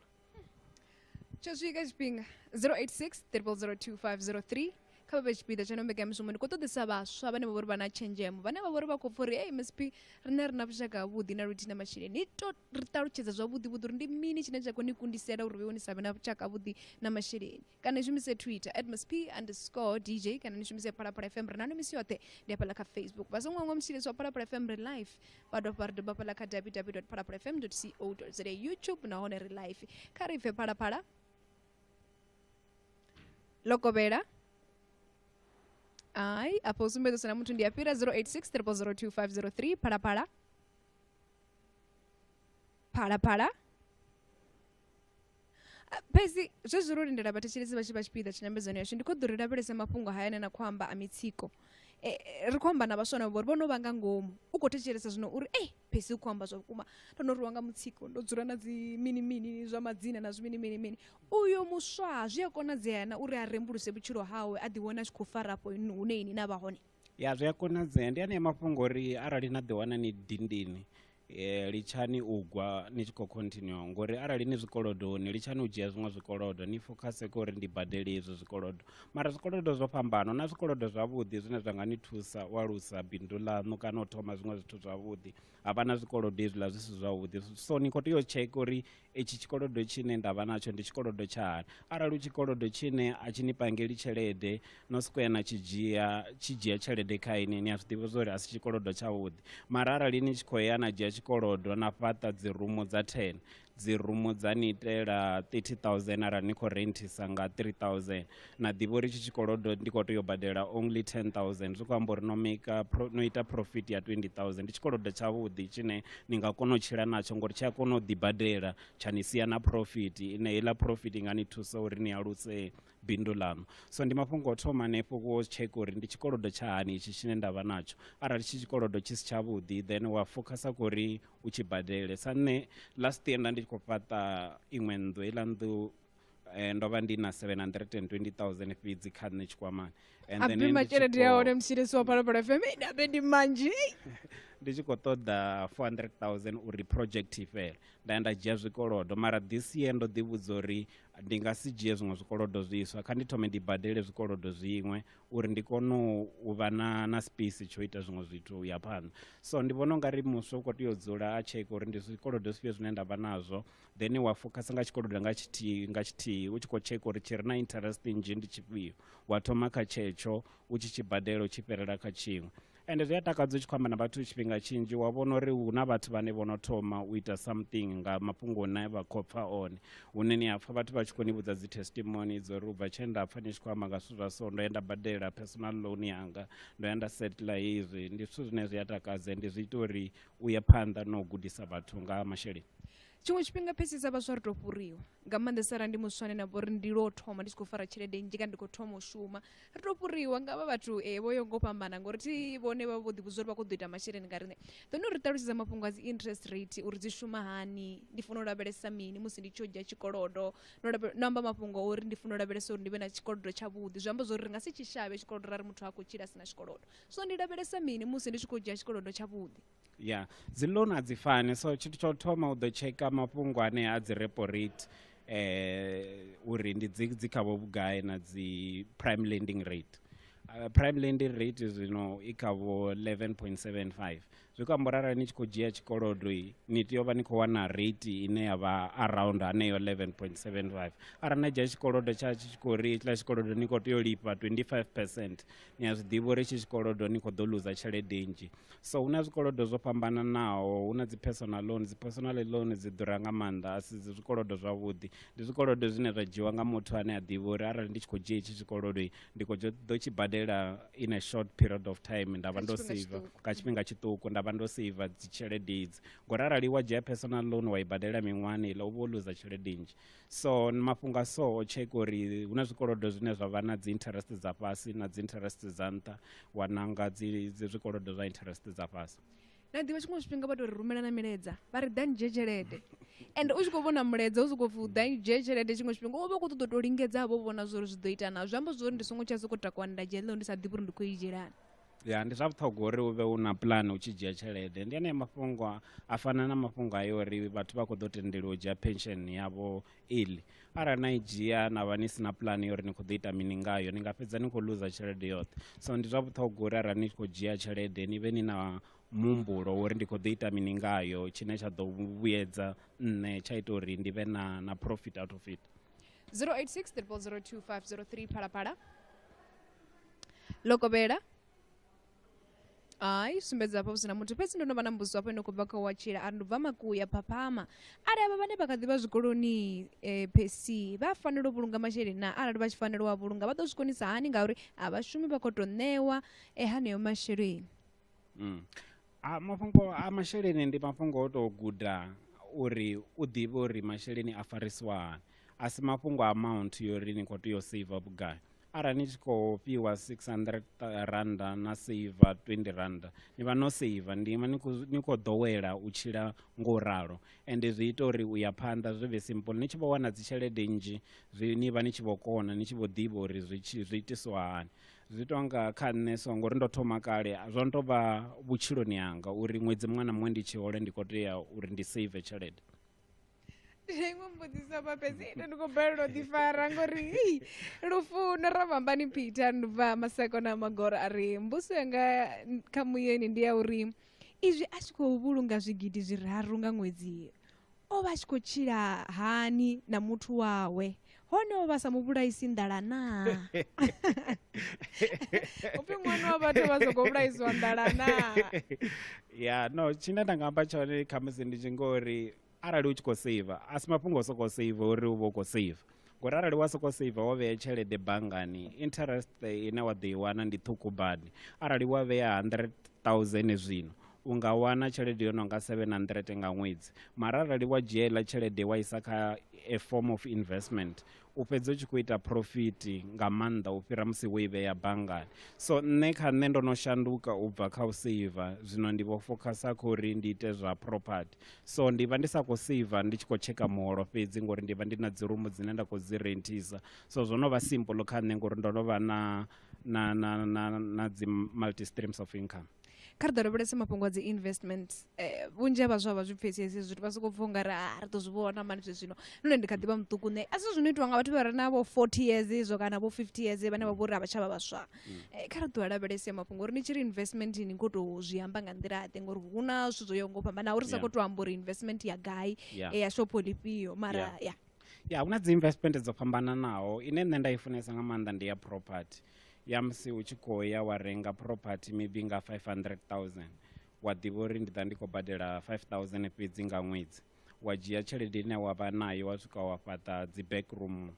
tsho swika tshifhinga 086 002503 kha vha vhe tshipiḓa tsha no mbekanyamushumo ndi khou ṱoḓisa vhaswa vhane vha vha uri vha na tshenzhemo vhane vha vha uri vha khou pfha uri ei msp riṋe ri na vhushaka havhuḓi na luthihi na masheleni ni to ri ṱalutshedza zwavhuḓi vhuḓi uri ndi mini tshine tsha khou ni kundisela uri vheiwe ni sa vhe na vhushaka havhuḓi na masheleni kana ni shumise twitter admas p underscore dj kana ni shumise phalaphala fm ri na no misi yoṱhe ndi hafhaḽa kha facebook vha songo hangwa mutshilisi wa phalaphala fm ri live vha dovha ri dovha hafhaḽa kha www phalaphala fm co za youtube nahone ri live kha ri bve phalaphala lokovhela ayi apo usumbezo sana muthu ndi apira 086 02503 phalaphala phalaphala Ah, pezi zwezwi ro lindela vhathetshelesi vha tshi vha tshipiḓa tshinyambedzano yashu ndi khou ḓo ri lavhelese mafhungo haya ane na khou amba a mitsiko e, e, ri khou amba na vhaswa na vhori vho no vha nga ngomu u khou thetshelesa zwino uri ei phesi u khou amba zwa vhukuma ndo no rwiwa nga mutsiko ndo dzula na dzi mini mini zwa madzina na zwi mini mini mini Uyo muswa zwi a konadzea na uri a rembuluse vhutshilo hawe a ḓiwana a tshi khou fara afho hune ini na vha hone? Ya, zwi a konadzea. Ndi anea mafhungo uri arali na ḓiwana ni dindini eh, litshani u gwa ni tshi khou continue ngori arali ni zwikolodoni litshani u dzhia zwiṅwe zwikolodo ni fokhase kha uri ndi badele izwo zwikolodo mara zwikolodo zwo fhambana na zwikolodo zwavhuḓi zwine zwa nga ni thusa u alusa bindu ḽaṋu kana u thoma zwiṅwe zwithu zwavhuḓi havha na zwikolodo hezwiḽa zwi si zwavhuḓi so ni khou tea u tsheka uri itshi tshikolodo tshine nda vha natsho ndi tshikolodo tsha hani arali u tshikolodo tshine a tshi ni pangeli tshelede no siko ya na tshi dzhia tshi dzhia tshelede kha ini ni a zwi ḓivha zwori a si tshikolodo tshavhuḓi mara arali ni tshi khou ya na dzhia tshikolodo na fhaṱa dzi rumu dza ten dzi rumu dza ni itela 30000 arali ni khou rentisa nga 3000 na ḓivha uri tshi tshikolodo ndi khou tea u badela only 10000 zwi khou amba uri no maker no ita profit ya 20000 ndi tshikolodo tshavhuḓi tshine ni nga kona u tshila natsho ngori tshi a kona u ḓibadela tsha ni sia na profit ine heiḽa profit i nga ni thusa uri ni alusee bindu ḽaṋu so ndi mafhungo o thoma hanefho wo tsheka uri ndi tshikolodo tsha hani itshi tshine nda vha natsho arali tshi tshikolodo tshi si tshavhuḓi then wa focusa kho uri u tshi badele sa nṋe last year nda ndi tshi khou fhaṱa iṅwe nnḓu heiḽa nnḓu Eh, ndo vha ndi na 720000 fhedzi kha nṋe tshikwamani abima tshelede ya hone mshirisi wa phalaphala fm ndabe ndi manzhi ndi tshi khou ṱoḓa 400000 uri project i fhele nda ya nda dzhia zwikolodo mara this year ndo ḓivhudza uri ndi nga si dzhie zwiṅwe zwikolodo zwiswa kha ndi thome ndi badele zwikolodo zwiṅwe uri ndi kone u vha na na space tsho ita zwiṅwe zwithu u ya phanḓa so ndi vhona u nga ri muswa u khou tea u dzula a tsheke uri ndi zwikolodo zwifhio zwine nda vha nazwo then wa focus nga tshikolodo nga tshithihi nga tshithihi u tshi khou tsheka uri tshi re na interest nnzhi ndi tshifhio wa thoma kha tshetsho u tshi tshi badela u tshi fhirela kha tshiṅwe ende zwi a takadza u tshi khou amba na vhathu tshifhinga tshinzhi wa vhona uri hu na vhathu vhane vho no thoma u ita something nga mafhungo une vha khou pfa one hune ni a pfa vhathu vha tshi khou ni vhudza dzi testimony dzo uri u bva tshe nda pfa ni tshi khou amba nga zwithu zwa so ndo ya nda badela personal loan yanga ndo ya nda settla hezwi ndi zwithu zwine zwi a takadza ende zwi ita uri u ya phanḓa na u gudisa vhathu nga ha masheleni tshiṅwe tshifhinga phesisa vhaswa ri to fhuriwa nga maanḓesa ra ndi muswane na vhori ndi lo thoma ndi tshi khou fara tshelede nnzhi kana ndi khou thoma u shuma ri to fhuriwa nga vha vhathu um vho yo ngo fhambana ngori thi vhone vha vho ḓivhudza uri vha khou ḓo ita masheleni nga riṋe ḓone uri ṱalutshedza mafhungo a dzi interest rate uri dzi shuma hani ndi funa u lavhelesa mini musi ndi tshi yo dzhia tshikolodo no amba mafhungo uri ndi funa u lavhelesa uri ndi vhe na tshikolodo tshavhuḓi zwi amba zwa uri ri nga si tshi shavhe tshikolodo ra ri muthu ha khou tshila a si na tshikolodo so ndi lavhelesa mini musi ndi tshi khou dzhia tshikolodo tshavhuḓi ya dzi loan a dzi fani so tshithu tsha u thoma u ḓo tsheka mafhungo ane a dzi repo rate um uri ndi dzi dzi khavho vhugai na dzi prime lending rate uh, prime lending rate zwino i khavho 11.75 zwi khou amba rara ni tshi khou dzhia tshikolodo ni tea u vha ni khou wana rate ine ya vha around haneyo 11.75 arali na dzhia tshikolodo tsha tshi tshi khou ri hetshiḽa tshikolodo ni khou tea u lifha 25 percent ni a zwi ḓivha uri tshi tshikolodo ni khou ḓo luza tshelede nnzhi so hu na zwikolodo zwo fhambananaho hu na dzi personal loan dzi personal loan dzi ḓura nga maanḓa a si dzi zwikolodo zwavhuḓi ndi zwikolodo zwine zwa dzhiwa nga muthu ane a ḓivha uri arali ndi tshi khou dzhia hetshi tshikolodo ndi khou ḓo tshi badela in a short period of time nda vha ndo seiva nga tshifhinga tshiṱuku nda vha ndo seiva dzitshelede idzi ngori arali wa dzhia personal loan wa i badela miṅwahani iḽa u vha wo luza tshelede nnzhi so mafhungo a so o tsheka uri hu na zwikolodo zwine zwa vha na dzi interest dza fhasi na dzi interest dza nṱha wa nanga dzi zwikolodo zwa interest dza fhasi na ḓivha tshiṅwe tshifhinga vha tou ri rumela na milaedza vha ri ḓani dzhie tshelede and u tshi khou vhona mulaedza u sokou pfi u ḓani dzhie tshelede tshiṅwe tshifhinga u vha u khou ṱoḓa u tou lingedza vho vhona zwo uri zwi ḓo ita na zwi amba zwo uri ndi songo tsha sokou takuwa nda dzhia ḽeo ndi sa ḓivhi uri ndi khou i dzhielani ya ndi zwa vhuṱhogwa uri u vhe u na pulani u tshi dzhia tshelede ndi anea mafhungo a fana na mafhungo ayo uri vhathu vha khou ḓo tendeliwa u dzhia pension yavho iḽi arali na i dzhia na vha ni si na pulani yo uri ni khou ḓo ita mini ngayo ni nga fhedza ni khou luza tshelede yoṱhe so ndi zwa vhuṱhogwa uri arali ni tshi khou dzhia tshelede ni vhe ni na muhumbulo uri ndi khou ḓo ita mini ngayo tshine tsha ḓo vhuyedza nṋe tsha ita uri ndi vhe na na profit out of it 086 002 503 phalaphala lokovhela hayi sumbedza hafha hu sina muthu fhedzi ndo no vha na mbudziso hafho ino khou bva kha wa tshila a ri ndubva makuya phaphama arali avha vhane vha kha ḓivha zwikoloni um eh, phesi vha fanela u vhulunga masheleni na arali vha tshi fanela u a vhulunga vha ḓo zwi konisa hani ngauri a vhashumi vha khou tou ṋewa um eh, haneyo masheleni mm. a mafhungo a masheleni ndi mafhungo o tou guda uri u ḓivhe uri masheleni a farisiwa hani a si mafhungo a amount yo ri ni khou tea u save vhugai arali ni tshi khou fhiwa 600 randa na seiva 20 randa ni vha no seiva ndi ima ni khou ḓowela u tshila ngo u ralo ende zwi ita uri u ya phanḓa zwi vhe simple ni tshi vho wana dzitshelede nnzhi zwi ni vha ni tshi vho kona ni tshi vho ḓivha uri zwi zwi itiswa hani zwi tou nga kha nṋe so ngori ndo thoma kale zwo no tou vha vhutshiloni hanga uri ṅwedzi muṅwe na muṅwe ndi tshi hole ndi khou tea uri ndi seive tshelede zwa iṅwe mbudziso hafha fhedzi ite ndi khou balelwa u ḓifara ngori hei lufuno ra vhambani peter ndi bva maseko na magoro a ri mbuso yanga n- kha muyeni ndi ya uri izwi a tshi khou vhulunga zwigidi zwiraru nga ṅwedzi o vha a tshi khou tshila hani na muthu wawe hone o vha sa mu vhulaisi nḓala naa upfi ṅwana wa vhathu vha sokou vhulaisiwa nḓala naa ya no tshine nda nga amba tshone khamusi ndi tshi ngori arali u tshi khou seiva a si mafhungo o sokou seiva uri u vha u khou seiva ngori arali wa sokou seiva wo vhea tshelede banngani interest ine wa ḓo i wana ndi ṱhukhu badi arali wa vhea hundred thousand zwino u nga wana tshelede yo no nga seven hundred nga ṅwedzi mara arali wa dzhia iḽa tshelede wa isa kha a form of investment u fhedza u tshi khou ita profit nga maanḓa u fhira musi wo i vhea banngani so nṋe kha nṋe ndo no shanduka u bva kha u seiva zwino ndi vho focusa kha uri ndi ite zwa property so ndi vha ndi sa khou seiva ndi tshi khou tsheka muholo fhedzi ngori ndi vha ndi na dzi rumu dzine nda khou dzi renthisa so zwo no vha simple kha nṋe ngori ndo no vha na na na na na dzi multi streams of income Kha ri ḓo lavhelesa mafhungo a dzi investment eh, vhunzhi ha vhaswa vha zwi pfesesi zwithu vha sokou pfha ungari ah, ri ḓo zwi vhona mani zwe zwino nṋe ndi kha ḓi vha muṱuku nṋe a si zwino itiwa nga vhathu vha re na vho 40 years izwo kana vho 50 years vhane vha vho ri a vha tsha vha vhaswa mm. eh, kha ri ḓo lavhelese mafhungo uri ni tshi ri investment ni khou tou zwi amba nga nḓila ḓe ngori hu na zwithu zwo yaho ngo fhambana uri sa khou tou amba uri investment ya gai eh, ya shopho lifhio mara ya ya hu na dzi investment dzo fhambananaho ine nṋe nda i funesa nga maanḓa ndi ya property ya musi u tshi khou ya wa renga property maybe nga 500 000 wa ḓivha uri ndi ḓa ndi khou badela 5 000 fhedzi nga ṅwedzi wa dzhia tshelede ine wa vha nayo wa swika wa fhaṱa dzi backroom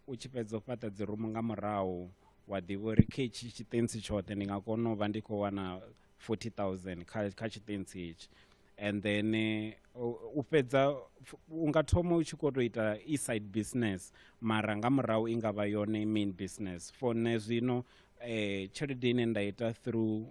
u tshi fhedza u fhaṱa dzi rumu nga murahu wa ḓivha uri kha itshi tshitentsi tshoṱhe ndi nga kona u vha ndi khou wana 40 000 kha, kha tshitentsi itshi and then eh, u fhedza u nga thoma u tshi kho to ita e side business mara nga murahu i nga vha yone main business for nṋe zwino eh, tshelede ine nda ita through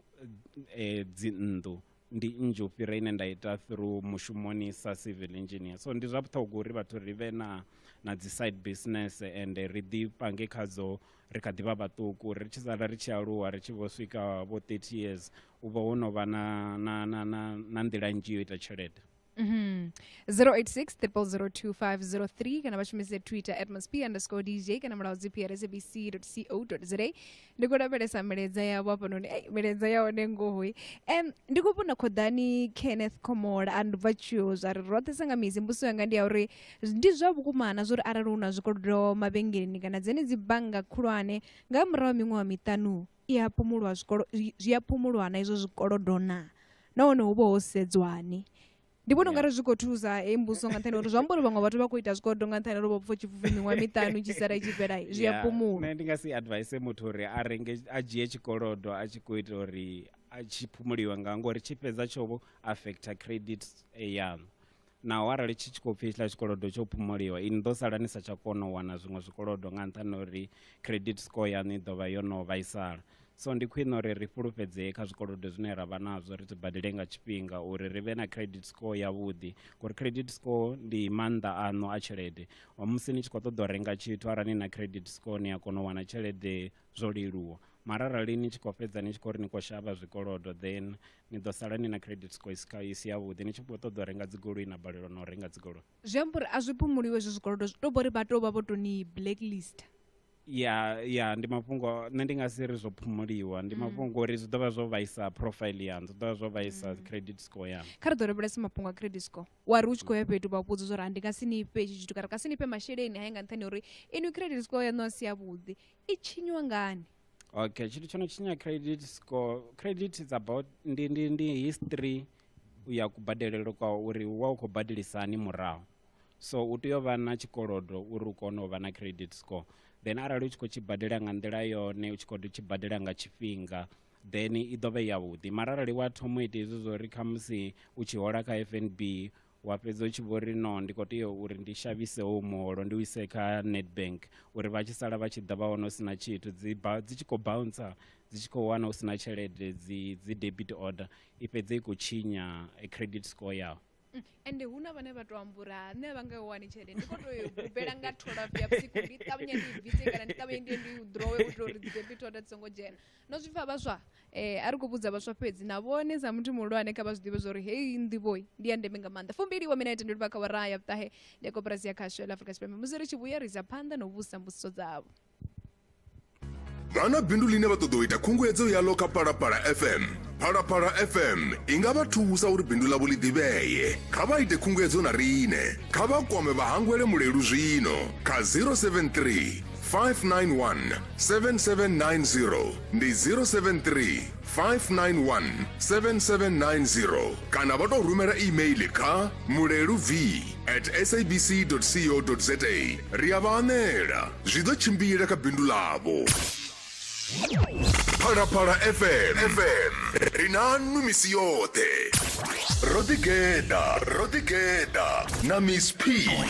eh, dzinnḓu ndi nnzhi u fhira ine nda ita through mushumoni sa civil engineer so ndi zwa vhuṱhogwa uri vhathu ri vhe na na dzi side business and ri ḓi pange khadzo ri kha ḓi vha vhaṱuku ri tshi sala ri tshi aluwa ri tshi vho swika vho 30 years u vha wo no vha na, na, na, na, na nḓila nzhi yo ita tshelede Mm -hmm. 086 002503 kana vha shumise twitter at msp underscore dj kana mulaho dzi pr sabc co za ndi khou lavhelesa milaedza yavho hafhanoni ei milaedza ya hone ngohoi um ndi khou vhona khoḓani kenneth khomola a ndubva tshiwo zwa ri roṱhe sa nga mizi mbuso yanga ndi ya uri Ndi zwa vhukuma na zwa uri arali hu na zwikolodo mavhengeleni kana dzenedzi bannga khulwane nga murahu ha miṅwaha miṱanu i a phumulwa zwikolo zwi a phumulwa na izwo zwikolodo na nahone hu vha ho sedzwani ndi vhona ungari zwi khou thusa hei mbuso nga nṱhani uri zwi amba uri vhaṅwe vhathu vha khou ita zwikolodo nga nṱhani uri vho pfa tshipfufi miṅwaha miṱanu tshi sala itshi fhela zwi a phumula nṋe ndi nga si advise muthu uri a renge a dzhie tshikolodo a tshi khou ita uri a tshi phumuliwe nga ngori tshi fhedza tsho affecta credit yaṋu naho arali tshi tshi khou pfhi hetshiḽa tshikolodo tsho phumoliwa ini ḓo sala ni sa tsha kona u wana zwiṅwe zwikolodo nga nṱhani uri credit score yaṋu i ḓo vha yo no vhaisala so ndi khwine uri ri fhulufhedzee kha zwikolodo zwine ra vha nazwo ri zwi badele nga tshifhinga uri ri vhe na credit score yavhuḓi ngori credit score ndi maanḓa aṋu a tshelede musi ni tshi khou ṱoḓa u renga tshithu arali ni na credit score ni a kona u wana tshelede zwo leluwa mara arali ni tshi khou fhedza ni tshi khou ri ni khou shavha zwikolodo then ni ḓo sala ni na credit score isi kha isi yavhuḓi ni tshi khou ṱoḓa u renga dzigoloi na balelwa na u renga dzigoloi zwi amba uri a zwi phumuliwe hezwo zwikolodo zwi tou bori vha tou vha vho tou ni blacklist ya ya ndi mafhungo nṋe ndi nga si ri zwo phumuliwa ndi mm. mafhungo uri zwi ḓovha zwo vhaisa profile yanu zwi ḓovha zwo vhaisa mm. credit score yanu kha ri ḓo lavhelesa mafhungo a credit score wa ri u tshi khou ya fhethu vha vhudza zwa uri ndi nga si ni fhe itshi tshithu kana ka si ni fhe masheleni haye nga nṱhani uri inwi credit score yaṋu a si yavhuḓi i tshinyiwa ngani okay tshithu tsho no tshinya credit score credit is about ndi, ndi, ndi history ya kubadelelo kwa uri wa u khou badelisani murahu so u tea u vha na tshikolodo uri u kone u vha na credit score then arali u tshi khou tshi badela nga nḓila yone u tshi khou tshi badela nga tshifhinga then i ḓo vha yavhuḓi mara arali wa thoma u ita hezwi zwo ri khamusi u tshi hola kha f n b wa fhedza u tshi vho ri no ndi khou tea uri ndi shavhise howu muholo ndi u ise kha netbank uri vha tshi sala vha tshi ḓa vha wana u si na tshithu dzi tshi khou bouncer dzi tshi khou wana u si na tshelede dzi dzi debit order i fhedze i khou tshinya credit score yaho mm, ende hu na vhane vha tou ambura nṋe vha nga wani tshelede ndi khou tou bubela nga tholafu ya vhusiku ndi ṱavhanye ndi bvise kana ndi ṱavhanye ndi ndi u drowe u itela uri dzi debit order dzi songo dzhena No zwi pfa vhaswa? Eh, a ri khou vhudza vhaswa fhedzi, na vhone sa muthu muhulwane kha vha zwi ḓivhe zwauri heyi nḓivhoi ndi ya ndeme nga maanḓa. Fumbili wa minete ndo livha kha awara ya vhuṱahe ya koporasi ya khasho ya ḽa Afrika Tshipembe musi ri tshi vhuya ri isa phanḓa na u vhudzisa mbudziso dzavho. Vha na bindu ḽine vha ṱoḓa u ita khunguwedzo yaḽo kha Phalaphala FM. Phalaphala FM i nga vha thusa uri bindu ḽavho ḽi ḓivhee. Kha vha ite khunguwedzo na riṋe. Kha vha kwame Vhahangwele Mulelu zwino kha 073 591 7790 ndi 073 591 7790 kana vha tou rumela email kha mulelu v at sabc co za ri a vha anela zwi ḓo tshimbila kha bindu ḽavho phalaphala fm fm ri na nnu misi yoṱhe ro ḓigeḓa ro ḓigeḓa na miss p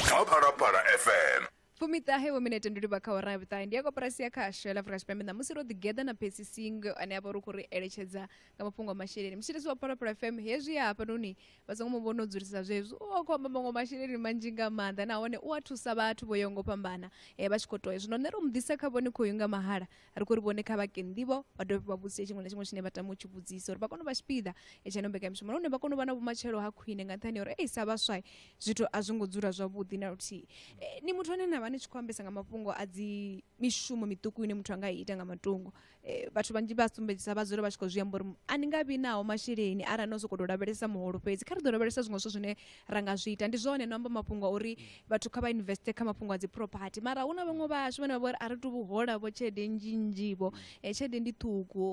kha phalaphala fm fumiṱahe vho minete ndi livha kha hora ya vhuṱahe ndi ya koporasi ya khasho ya la afrika tshipembe ṋamusi ro ḓigeḓa na pesi sing ane a vha uri u khou ri eletshedza nga mafhungo a masheleni mutshitisi wa phalaphala fm hezwi ya hafhanoni vha songo mu vhona u dzulisa zwezwi u a khou amba maṅwe masheleni manzhi nga maanḓa nahone u a thusa vhathu vho yaho ngo fhambana eh, vha tshi khou toya zwino nṋe ro mu ḓisa kha vhone khoyu nga mahala ri khou ri vhone kha vhake nḓivho vha dovhe vha vhudzise tshiṅwe na tshiṅwe tshine vha tama u tshi vhudzisa uri vha kone u vha tshipiḓa etshaino mbekanyamishumo nahone vha kone u vha na vhumatshelo ha khwine nga nṱhani ya uri ei sa vhaswa zwithu a zwi ngo dzula zwavhuḓi na luthihi eh, ni muthu ane na vha ni tshi khou ambesa nga mafhungo a dzi mishumo miṱuku ine muthu a nga ita nga matungo eh, vhathu vhanzhi vha sumbedzisa vha dzula vha tshi khou zwi amba uri a ni nga vhi naho masheleni arali no sokou tou lavhelesa muholo fhedzi kha ri ḓo lavhelesa zwiṅwe zwithu zwine ra nga zwi ita ndi zwone no amba mafhungo a uri vhathu kha vha investe kha mafhungo a dzi property mara hu na vhaṅwe vhashu vhane vha vha uri a ri tu vhuhola vho tshelede nnzhi nnzhi vho eh, tshelede ndi ṱhukhu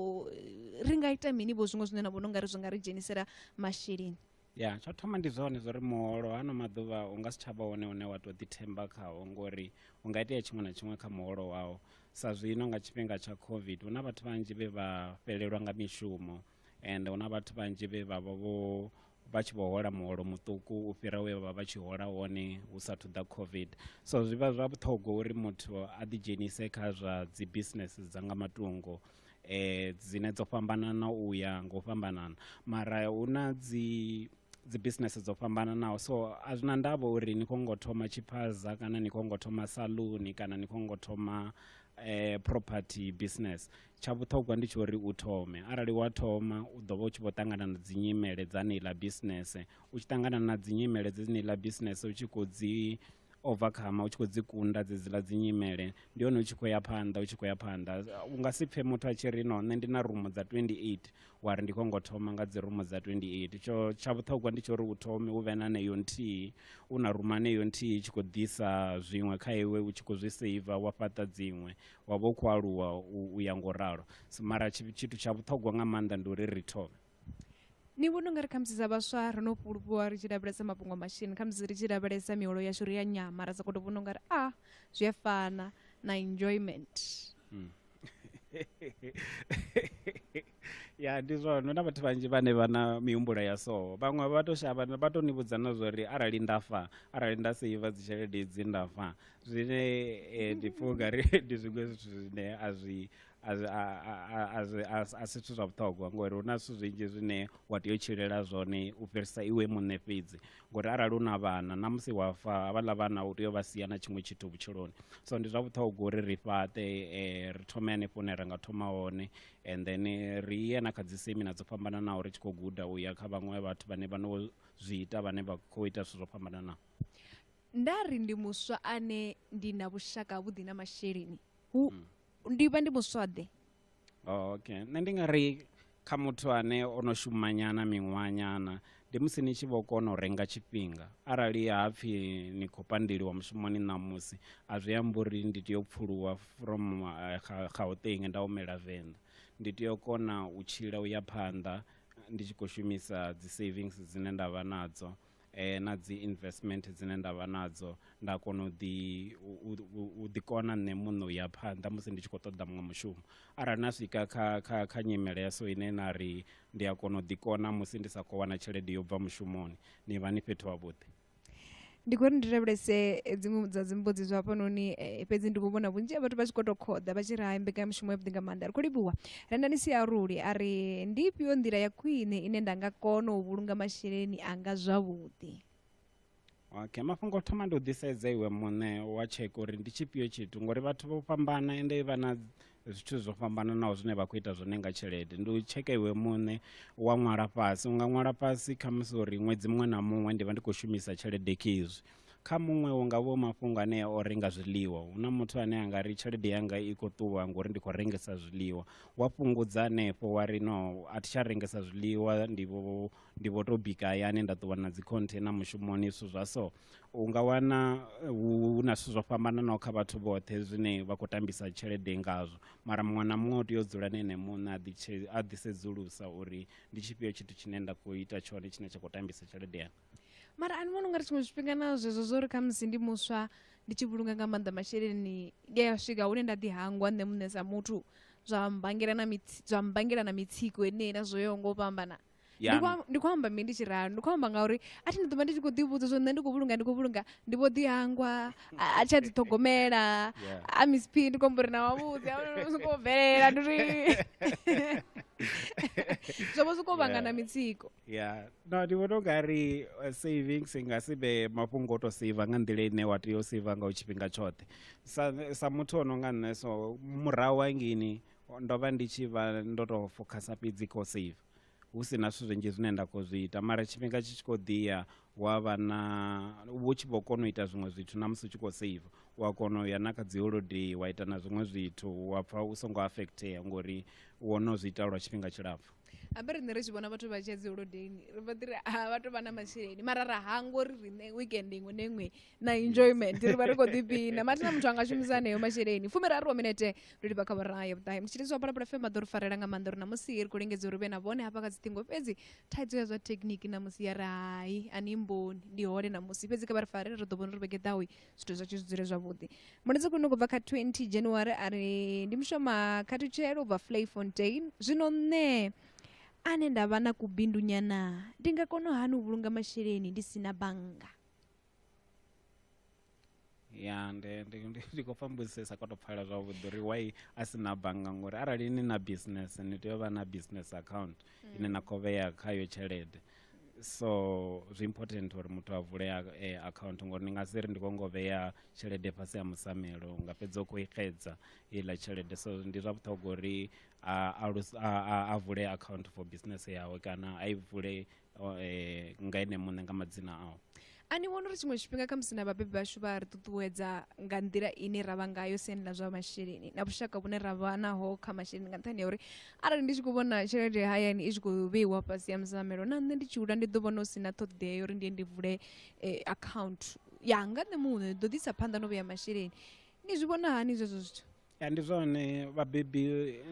ri nga ita mini vho zwiṅwe zwine na vhona ungari zwi nga ri dzhenisela masheleni ya tsho thoma ndi zwone zwa uri muholo hano maḓuvha u nga si tsha vha wone une wa tou ḓithemba khawo ngori u nga itea tshiṅwe na tshiṅwe kha muholo wawo sa zwino nga tshifhinga tsha covid hu na vhathu vhanzhi vhe vha fhelelwa nga mishumo and hu na vhathu vhanzhi vhe vha vha vho vha tshi vho hola muholo muṱuku u fhira we vha vha tshi hola wone hu sa thuḓa covid so zwi vha zwa vhuṱhogwa uri muthu a ḓidzhenise kha zwa dzi business dza nga matungo um dzine dzo fhambanana u ya nga u fhambanana mara hu na dzi dzi business dzo fhambananaho so a zwi na ndavha uri ni khou ngo thoma tshiphaza kana ni khou ngo thoma saluni kana ni khou ngo thoma um property business tsha vhuṱhogwa ndi tsha uri u thome arali wa thoma u ḓo vha u tshi vho ṱangana na dzi nyimele dza neiḽa bisinese u tshi ṱangana na dzi nyimele dze neiḽa bisinese u tshi khou dzi overcome u tshi khou dzi kunda dzedziḽa dzi nyimele ndi hone u tshi khou ya phanḓa u tshi khou ya phanḓa u nga si pfhe muthu a tshi ri no nṋe ndi na rumu dza 28 wa ri ndi khou ngo thoma nga dzi rumu dza 28 tsho tsha vhuṱhogwa ndi tsho uri u thome u vhe na neyo nthihi u na rumu aneyo nthihi tshi khou ḓisa zwiṅwe kha iwe u tshi khou zwi seiva wa fhaṱa dziṅwe wa vha u khou aluwa u ya ngo ralo mara tshithu tsha vhuṱhogwa nga maanḓa ndi uri ri thome ni vhona ungari khamusi dza vhaswa ro no fhulufhiwa ri tshi lavhelesa mafhungo a mashini khamusi ri tshi lavhelesa miholo yashu ri ya nyama ra sokou to vhona ungari a ah, zwi a fana na enjoyment hmm. ya ndi zwone hu na vhathu vhanzhi vhane vha na mihumbulo ya so vhaṅwe vha to shavha vha to ni vhudza na zwa uri arali nda fa arali nda seiva dzitshelede idzi nda fa zwine eh, ndi pfha ungari ndi zwiṅwe zwithu zwine a zwi a zwi- a- a- a- a zwi- a si- a si zwithu zwa vhuṱhogwa ngori hu na zwithu zwinzhi zwine wa tea u tshilela zwone u fhirisa iwe muṋe fhedzi ngori arali u na vhana na musi wa fa havhaḽa vhana u tea u vha sia na tshiṅwe tshithu vhutshiloni so ndi zwa vhuṱhogwa uri ri fhaṱe eh, ri thome hanefho hune ra nga thoma hone and then eh, ri ye na kha dzi semina dzo fhambananaho ri tshi khou guda u ya kha vhaṅwe vhathu vhane vha no zwi ita vhane vha khou ita zwithu zwo fhambananaho nda ri ndi muswa ane ndi na vhushaka havhuḓi na masheleni hmm. ndi vha ndi muswa ḓe oh, okay nṋe ndi nga ri kha muthu ane o no shumanyana miṅwanyana ndi musi ni tshi vho kona u renga tshifhinga arali ha pfhi ni khou pandeliwa mushumoni ṋamusi a zwi amba uri ndi tea u pfuluwa from gauteng nda humela venḓa ndi tea u kona u tshila u ya phanḓa ndi tshi khou shumisa dzi savings dzine nda vha nadzo eh, na dzi investment dzine nda vha nadzo nda kona u ḓi u ḓi kona nṋe muṋe u ya phanḓa musi ndi tshi khou ṱoḓa muṅwe mushumo arali na swika kha kha kha nyimele ya so ine na ri ndi a kona u ḓikona musi ndi sa khou wana tshelede yo bva mushumoni ni vha ni fhethu havhuḓi ndi khou ri ndi lavhelese eh, dziṅwe dza dzimbudzi zwa hafhanoni eh, fhedzi ndi khou vhona vhunzhi ha vhathu vha tshi khou tou khoḓa vha tshi ri hai mbekanyamushumo ya vhuḓi nga maanḓa ri khou livhuwa rendani si aruli a ri ndi ifhio nḓila ya khwine ine nda nga kona u vhulunga masheleni anga zwavhuḓi okay mafhungo o thoma ndi u ḓisedza iwe muṋe wa tsheke uri ndi tshifhio tshithu ngori vhathu vho fhambana ende vha na zwithu zwo fhambananaho zwine vha khou ita zwone nga tshelede ndi u tsheka iwe muṋe wa ṅwala fhasi u nga ṅwala fhasi kha musi uri ṅwedzi muṅwe na muṅwe ndi vha ndi khou shumisa tshelede khezwi kha muṅwe hu nga vho mafhungo ane o renga zwiḽiwa hu na muthu ane a nga ri tshelede yanga i khou ṱuwa ngori ndi khou rengesa zwiḽiwa wa fhungudza hanefho wa ri no a thi tsha rengesa zwiḽiwa ndi vho ndi vho tou bika hayani nda ṱuwa na dzi container mushumoni zwithu zwa so u nga wana eh, hu na zwithu zwo fhambananaho kha vhathu vhoṱhe zwine vha khou tambisa tshelede ngazwo mara muṅwe na muṅwe u tea u dzula na ene muṋe a ḓitshe- a ḓisedzulusa uri ndi tshifhio tshithu tshine nda khou ita tshone tshine tsha khou tambisa tshelede yanga mara ani vhona ungari tshiṅwe tshifhinga na zwezwo zwo ri khamusi ndi muswa ndi tshi vhulunga nga maanḓa masheleni ndi a swika hune nda ḓi hangwa nṋe muṋe sa muthu zwa mmbangela na mitsi- zwa mmbangela na mitsiko enei na zwo yaho ngo fhambana ndi yaṋu kwa- ndi khou amba mini ndi tshi ralo ndi khou amba ngauri a thi ndi ḓo vha ndi tshi khou ḓivhudza zwo nṋe ndi khou vhulunga ndi khou vhulunga ndi vho ḓihangwa a a tsha ḓiṱhogomela Yeah. a miss p ndi khou amba uri na wavhuḓi a zwi khou bvelela ndi uri zwo vha zwi khou vhangana Yeah. mitsiko ya no ndi vhona ungari eh, savings i nga si vhe mafhungo o to seiva nga nḓila ine wa tea u seiva nga u tshifhinga tshoṱhe sa, sa muthu o no nga nṋe so murahu hangini ndo vha ndi tshi vha ndo tou fokhasa fhedzi kho save hu si na zwithu zwinzhi zwine nda khou zwi ita mara tshifhinga tshi tshi khou ḓiya wa vha na vhu tshi vho kona u ita zwiṅwe zwithu na musi u tshi khou save u a kona u ya na kha dzi holodei wa ita na zwiṅwe zwithu wa pfha u songo affectea ngori wo no zwi ita lwa tshifhinga tshilapfhu ambe riṋe ri tshi vhona vhathu vha tshi ya dzi holodeini ri vha ḓiri a vha tou vha na masheleni mara ra hangwa uri riṋe weekend iṅwe na iṅwe na enjoyment ri vha ri khou ḓipina mathina muthu a nga shumisa aneyo masheleni fumiraru wa minete ndo livha kha vhoraya ya vhuṱahe mutshitshisi wa phalaphala fm a ḓo ri farela nga maanḓa uri na musi ri khou lingedza uri vhe na vhone hafha kha dziṱhingo fhedzi thaidzo ya zwa thekhiniki na musi ya ri hai ani mboni ndi hole na musi fhedzi kha vha ri fare ri ḓo vhona uri vhege ḓawi zwithu zwatshu zwi dzule zwavhuḓi mulidzi khwine khou bva kha 20 january a ri ndi mushoma khathutshelo ubva flay fontain zwino nṋe ane nda vha na kubindunyana ndi nga kona hani u vhulunga masheleni ndi si na bannga ya ndi ndi ndi ndi khou pfambusesa kwa to pfala zwavhuḓi uri why a si na bannga ngori arali ni na business ni tea u vha na business account ine na khou vhea khayo tshelede so zwi important uri muthu a vule a- eh, account ngori ni nga si ri ndi khou ngo vhea tshelede fhasi ya musamelo nga fhedza u khou i xedza iḽa tshelede so ndi zwa vhuṱhogwa uri a, alus- a, a, a vule account for business yawe kana a i vule o, eh, nga ene muṋe nga madzina ao a ni vhona uri tshiṅwe tshifhinga kha musi na vhabebi vhashu vha ri ṱuṱuwedza nga nḓila ine ra vha ngayo siani ḽa zwa masheleni na vhushaka vhune ra vha naho kha masheleni nga nṱhani ya uri arali ndi tshi khou vhona tshelede hayani i tshi khou vheiwa fhasi ya musamelo na nṋe ndi tshi hula ndi ḓo vhona hu si na ṱhoḓea ya uri ndi ye ndi vule eh, account yanga nṋe muṋe ndi ḓo ḓisa phanḓa no vhea masheleni ni zwi vhona hani zwezwo zwithu ya ndi zwone vhabebi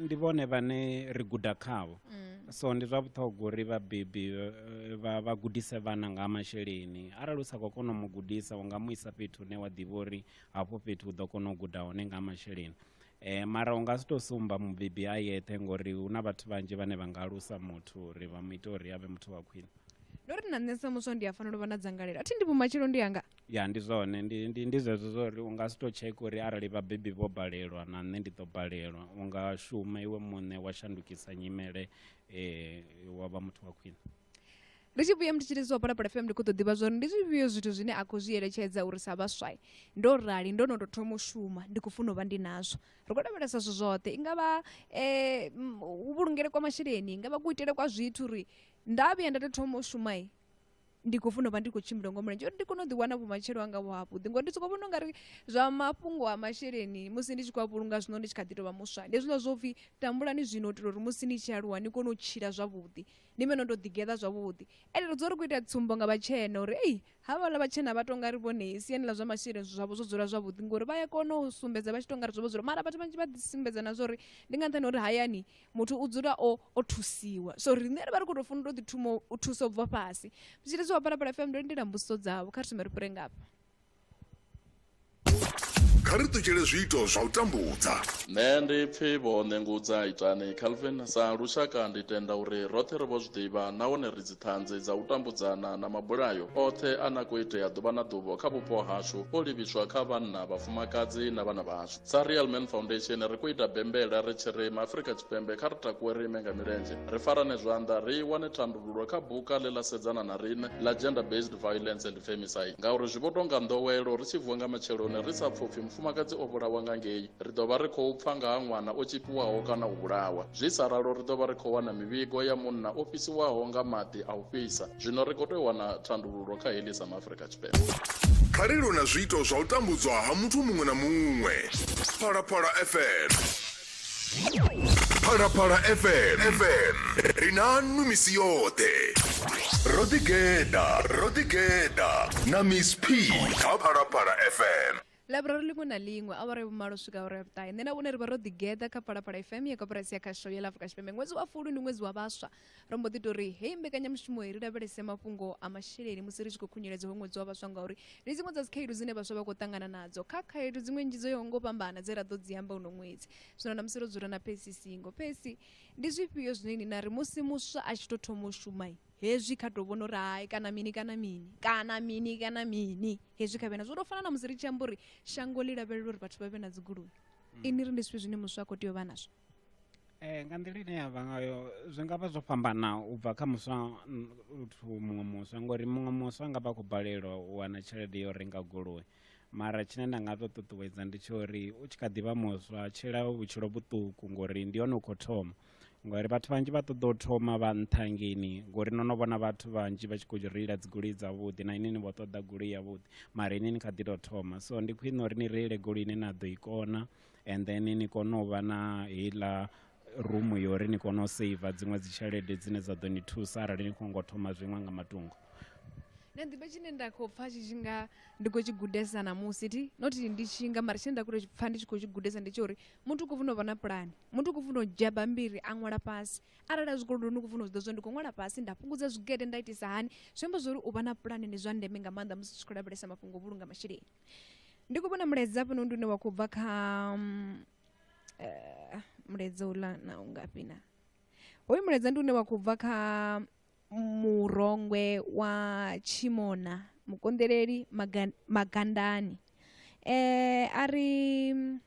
ndi vhone vhane ri guda khavho mm. so ndi zwa vhuṱhogwa uri vhabebi eh, vha gudise vhana nga masheleni arali u sa khou kona u mu gudisa u nga mu isa fhethu hune wa ḓivha uri hafho fhethu u ḓo kona u guda hone nga masheleni um mara u nga si tou sumba mubebi a yeṱhe ngori hu na vhathu vhanzhi vhane vha nga alusa muthu uri vha mu ite uri a vhe muthu wa khwine ndo ri na nṋe sa muswa ndi a fanela u vha na dzangalelo a thi ndi vhumatshelo ndi yanga ya ndi zwone ndi ndi ndi zwezwo zwo uri u nga si tou tsheka uri arali vhabebi vho balelwa na nṋe ndi ḓo balelwa u nga shuma iwe muṋe wa shandukisa nyimele um wa vha muthu wa khwine ri tshi vhuya mutshitshilisi wa phalaphala fm ndi khou ḓo ḓivha zwori ndi zwifhio zwithu zwine a khou zwi eletshedza uri sa vhaswa ndo rali ndo no tou thoma u shuma ndi khou funa u vha ndi nazwo ri khou lavhelesa zwithu zwoṱhe i nga vha um vhulungele kwa masheleni i nga vha kuitele kwa zwithu uri nda vhuya nda tou thoma u shumai ndi khou funa u vha ndi khou tshimbila ngo mulenzhe uri ndi kone u ḓiwana vhumatshelo anga vho havhuḓi ngori ndi sokou vhona ungari zwa mafhungo a masheleni musi ndi tshi khou a vhulunga zwino ndi tshi kha ḓi tovha muswa ndi hezwiḽa zwo pfhi tambulani zwino u itela uri musi ni tshi aluwa ni kone u tshila zwavhuḓi ni vhe no tou ḓigeḓa zwavhuḓi ende ri dzula ri khou ita tsumbo nga vhatshena uri ei havhaḽa vhatshena vha tonga ri vhone siani ḽa zwa masheleni zwavho zwo dzula zwavhuḓi ngori vha ya kona u sumbedza vha tshi tonga ri zwo vho dzula mara vhathu vhanzhi vha ḓi sumbedza na zwa uri ndi nga nṱhani uri hayani muthu u dzula o o thusiwa so riṋe ri vha ri khou tou fanela u tou ḓi thoma u thusa u bva fhasi zwitshili zwa phalaphala fm ndo lindela mbudziso dzavho kha ri thome ri fhure ngafha kha ri ṱutshele zwiito zwa u tambudza nṋe ndi pfi vho ṋengudza itani calvin sa lushaka ndi tenda uri roṱhe ri vho zwi ḓivha nahone ri dziṱhanzi dza u tambudzana na mabulayo oṱhe a na khou itea ḓuvha na ḓuvho kha vhupo hashu o livhiswa kha vhanna vhafumakadzi na vhana vhashu sa real man foundation ri khou ita bembela ri tshi ri maafrika tshipembe kha ri takuwe ri ime nga milenzhe ri farane zwanḓa ri wane thandululo kha buka ḽe ḽa sedzana na riṋe ḽa gender based violence and femicide ngauri zwi vho tonga nḓowelo ri tshi vuwa nga matsheloni ri sa pfupfi mufumakadzi o vhulawa nga ngei ri ḓo vha ri khou pfa nga ha ṅwana o tshipiwaho kana u vhulawa zwi sa ralo ri ḓo vha ri khou wana mivhigo ya munna o fhisiwaho nga maḓi a u fhisa zwino ri khou tea u wana thandululo kha heḽi sa maafrika kha ri lu na zwiito zwa u tambudzwa ha muthu muṅwe na muṅwe phalaphala fm phalaphala fm fm ri nanu misi yoṱhe ro ḓigeḓa ro ḓigeḓa na miss p kha phalaphala fm ḽaiburari ḽiṅwe na ḽiṅwe awara vhumalo swika awara ya vhuṱahe nṋe na vhone ri vha ro ḓigeḓa kha phalaphala fm ya koporasi ya khasho ya ḽa afurika tshipembe ṅwedzi wa fulu ndi ṅwedzi wa vhaswa ro mbo ḓi tori heyi mbekanyamushumo ri lavhelese mafhungo a masheleni musi ri tshi khou khunyeledza ho ṅwedzi wa vhaswa ngauri ndi dziṅwe dza dzikhaedu dzine vhaswa vha khou ṱangana nadzo kha khaedu dziṅwe nnzhi dzo yaho ngo fhambana dze ra ḓo dzi amba uno ṅwedzi zwino na musi ro dzula na phesi singo phesi ndi zwifhio zwine ni na ri musi muswa a tshi tou thoma u shuma Hezwi kha tou vhona uri hai kana mini kana mini kana mini kana mini hezwi kha vhena zwo tou fana na musi ri tshi amba uri shango ḽi lavhelela uri vhathu vha vhe na dzigoloi mm. ini ri ndi zwifhi zwine muswa a khou tea u vha nazwo um nga nḓila ine ya vha ngayo zwi nga vha zwo fhambana u bva kha muswa uthu muṅwe muswa ngori muṅwe muswa a nga vha a khou balelwa u wana tshelede yo renga goloi mara tshine nda nga tou ṱuṱuwedza ndi tsha uri u tshi kha ḓi vha muswa tshila vhutshilo vhuṱuku ngori ndi hone u khou thoma ngori vhathu vhanzhi vha ṱoḓa u thoma vha nṱha ngeni ngori no no vhona vhathu vhanzhi vha tshi khou reila dzi goloi dzavhuḓi na inini vho ṱoḓa goloi yavhuḓi mara ini ni kha ḓi tou thoma so ndi khwine uri ni reile goloi ine na ḓo i kona and then ni kone u vha na heiḽa rumu yo uri ni kone u seiva dziṅwe dzi tshelede dzine dza ḓo ni thusa arali ni khou ngo thoma zwiṅwe nga matungo na ḓivha tshine nda khou pfha tshi tshi nga ndi khou tshi gudesa namusi thi not ndi tshi nga mara tshine nda khou pfha ndi tshi khou tshi gudesa ndi tsha uri muthu u khou funa u vha na pulani muthu u khou funa u dzhia bambiri a ṅwala fhasi arali a zwikolodoni u khou funa u zwi ḓa zwa ndi khou ṅwala fhasi nda fhungudza zwigede nda itisa hani zwi amba zwori u vha na pulane ndi zwa ndeme nga maanḓa musi tshi khou lavhelesa mafhungo o vhulunga masheleni ndi khou vhona mulaedza hafhanoni ndi une wa khou bva kha mm, eh, mulaedza uḽa na u ngafhi na hoyu mulaedza ndi une wa khou bva kha murongwe wa tshimona mukonḓeleli maga- magandani eh a ri mm,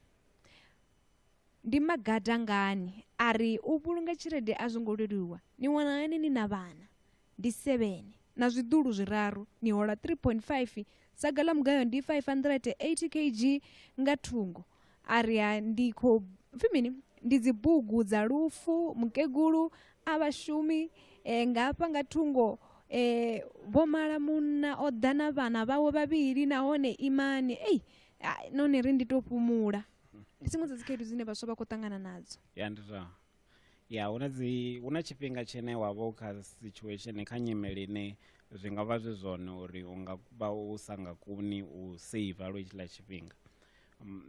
Ndi magada ngani a ri u vhulunga tshelede a zwo ngo leluwa? Ni wana hani ni na vhana? Ndi sevene na zwiḓulu zwiraru. Ni hola 3.5. Saga ḽa mugayo ndi 580 kg nga thungo. A ri ha ndi khou pfi mini? Ndi dzibugu dza lufu, mukegulu, a vha shumi e, nga hafha nga thungo e, vho mala munna o ḓa na vhana vhawe vhavhili nahone imani. Ei, noni ri ndi tou fhumula. ndi dziṅwe dza dzikhaedu dzine vhaswa vha khou ṱangana nadzo ya ndi zwa ya hu na dzi hu na tshifhinga tshine wa vha u kha situation kha nyimele ine zwi nga vha zwi zwone uri u nga vha u sa nga koni u seiva lwo tshiḽa tshifhinga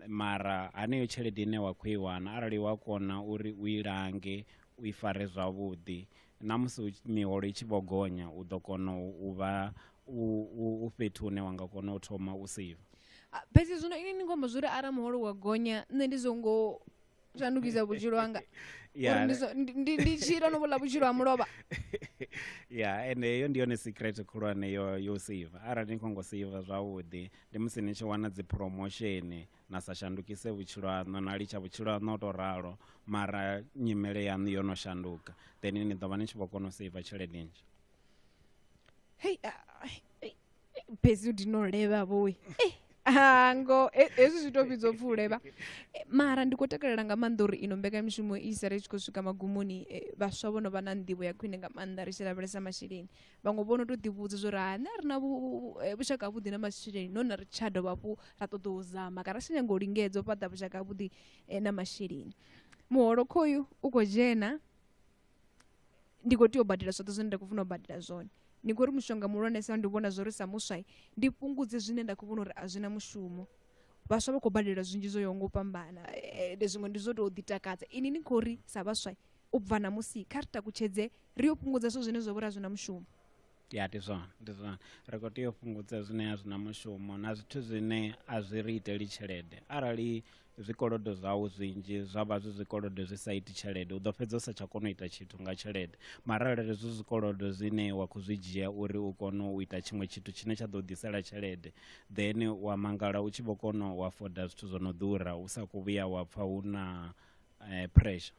mara haneyo tshelede ine wa khou i wana arali wa kona uri u i lange u i fare zwavhuḓi na musi miholo i tshi vho gonya u ḓo kona u vha u, u fhethu hune wa nga kona u thoma u save ah, fhedzi zwino ini ni khomba zwo ri arali muholo wa gonya nṋe ndi zwo ngo shandukisa vhutshilo hanga ndi tshila no vhuḽa vhutshilo ha mulovha ya ende heyo ndi yone secret khulwane yo yo save arali ni khongo save zwavhuḓi ndi musi ni tshi wana dzi promotion na sa shandukise vhutshilo haṋu na litsha vhutshilo haṋu o to ralo mara nyimele yaṋu yo no shanduka then ni ḓo vha ni tshi vho kona u save tshelede nzhi hei ah, ai, ei, ei, bhezi ndinoleva voi Eh, ah, ngo he- hezwi zwi to vhidzwa upfi u levha Eh, mara ndi khou takalela nga maanḓa uri ino mbekamishumo i sale i tshi khou swika magumoni eh, vhaswa vho no vha na nḓivho ya khwine nga maanḓa ri tshi lavhelesa masheleni vhaṅwe vho no tou ḓivhudza zwo uri ha na ri na vhu- vhu- eh, vhushaka havhuḓi na masheleni no na ri tsha dovha hafhu ra ṱoḓa u zama kana ri tshi nyanga u lingedza u fhaṱa vhushaka havhuḓi eh, na masheleni muholo khoyu u khou dzhena ndi khou tea u badela zwoṱhe zwine nda khou funa u badela zwone ndi khou ri mushonga muhulwanesa ndi vhona zwo ri sa muswai ndi fhungudze zwine nda khou vhona uri a zwi na mushumo vhaswa vha khou badela zwinzhi zwo yaho nga u fhambana eh, ende zwiṅwe ndi zwo tou ḓitakadza ini ni khou ri sa vhaswai u bva na musi kha ri takutshedze ri yo fhungudza zwithu zwine zwa vho ri a zwi na mushumo ya ndi zwone ndi zwone ri khou tea u fhungudza zwine a zwi na mushumo na zwithu zwine a zwi ri iteli tshelede arali zwikolodo zwau zwinzhi zwa vha zwi zwikolodo zwi sa iti tshelede u ḓo fhedza u sa tsha kona u ita tshithu nga tshelede mara arali zwi zwikolodo zwine wa khou zwi dzhia uri u kone u ita tshiṅwe tshithu tshine tsha ḓo ḓisela tshelede then wa mangala u tshi vho kona u afoda zwithu zwo no ḓura u sa khou vhuya wa pfha hu na eh, pressure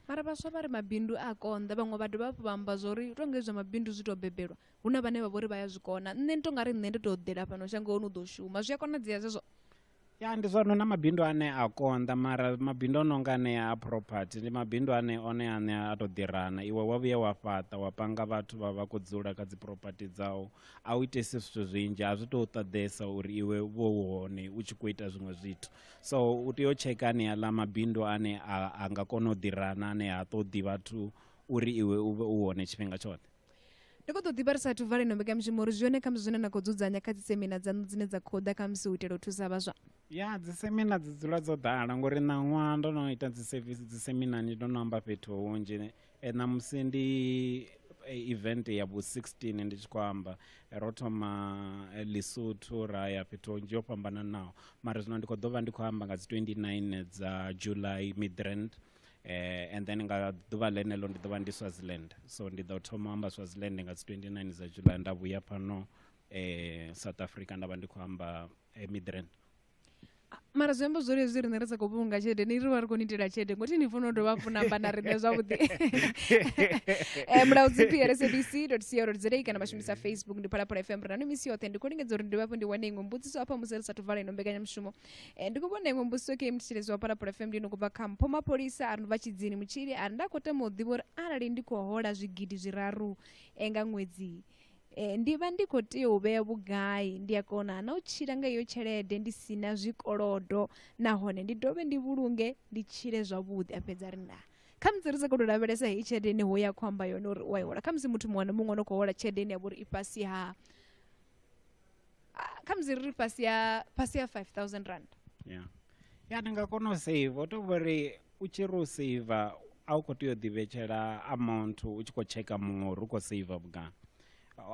mara vhaswa vha ri mabindu a konḓa vhaṅwe vha dovha hafhu vha amba zwa uri tonga izwa mabindu zwi tou bebelwa hu na vhane vha vhori vha ya zwi kona nṋe ndi tonga ri nṋe ndi tou ḓela fhano shangoni u ḓo shuma zwi a konadzea zwezwo ya ndi zwone na mabindu ane a konḓa mara mabindu o no nga anea a property ndi mabindu ane one ane a tou ḓirana iwe wa vhuye wa fhaṱa wa panga vhathu vha vha khou dzula kha dzi property dzau a u itesi zwithu zwinzhi a zwi tou ṱoḓesa uri iwe vho hone u tshi khou ita zwiṅwe zwithu so u tea u tsheka aneaḽa mabindu ane a nga kona u ḓirana ane ha ṱoḓi vhathu uri iwe u vhe u hone tshifhinga tshoṱhe ndi khou ḓo ḓivha ri sathu vala ino mbekanyamushumo uri zwi hone khamusi zwine na khou dzudzanya kha dzisemina dzaṋu dzine dza khou ḓa khamusi u itela u thusa vhaswa ya dzisemina dzi dzula dzo ḓala ngori ṋaṅwaha ndo no ita dziseminani ndo no amba fhethu hunzhi e, ṋamusi ndi e, event ya vhu 16 ndi tshi khou amba e, ro thoma e, lesotho ra ya fhethu hunzhi yo fhambananaho mara zwino ndi khou ḓo vha ndi khou amba nga dzi 29 dza july midrand eh, and then nga ḓuvha ḽeneḽo ndi ḓo vha ndi swaziland so ndi ḓo thoma u amba swaziland nga dzi 29 dza july nda vhuya fhano eh, south africa nda vha ndi khou amba eh, midrand mara zwi amba zwori hezwi riṋe ri sa khou vhulunga tshelede ni ri vha ri khou ni itela tshelede ngothi ni funa u dovha hafhu namba na riṋe zwavhuḓi um mulaudzi prsabc co za kana vha shumisa facebook ndi phalaphala fm ri na misi yoṱhe ndi khou lingedza uri ndi dovha hafhu ndi wane iṅwe mbudziso hafha musi ri sathu vala ino mbekanyamushumo ndi khou vhona iṅwe mbudziso ke mthetshelezi wa phalaphala fm ndi ino kubva kha mpho mapholisa a ri vha tshidzini mutshili a ri nda khou tama u ḓivha uri arali ndi khou hola zwigidi zwiraru nga ṅwedzi Eh, ndi vha ndi khou tea u vhea vhugai ndi a kona na u tshila nga iyo tshelede ndi si na zwikolodo nahone ndi dovhe ndi vhulunge ndi tshile zwavhuḓi a fhedza ri nda kha musi ri sa khou tou lavhelesa heyi tshelede ine ho ya khou amba yone uri u a i hola kha musi muthu muṅwe na muṅwe o no khou hola tshelede ine ya vha uri i fhasi ha ah, kha musi ri ri fhasi ha fhasi ha 5000 rand ya ya ndi nga kona u save o to vhori u tshi ri u seiva a u khou tea u ḓivhetshela amount u tshi khou tsheka muṅwe uri u khou seiva vhungana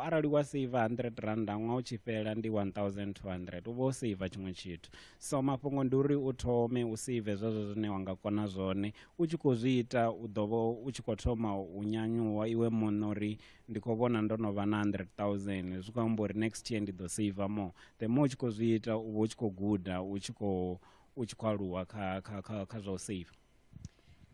arali wa seiva 100 randa ṅwaha u tshi fhela ndi 1200 u vha u seiva tshiṅwe tshithu so mafhungo ndi uri u thome u seive zwezwo zwine wa nga kona zwone u tshi khou zwi ita u ḓo vha u tshi khou thoma u nyanyuwa iwe muṋe uri ndi khou vhona ndo no vha na 100000 zwi khou amba uri next year ndi ḓo seiva more the more u tshi khou zwi ita u vha u tshi khou guda u tshi khou u tshi khou aluwa kha kha kha kha zwa u save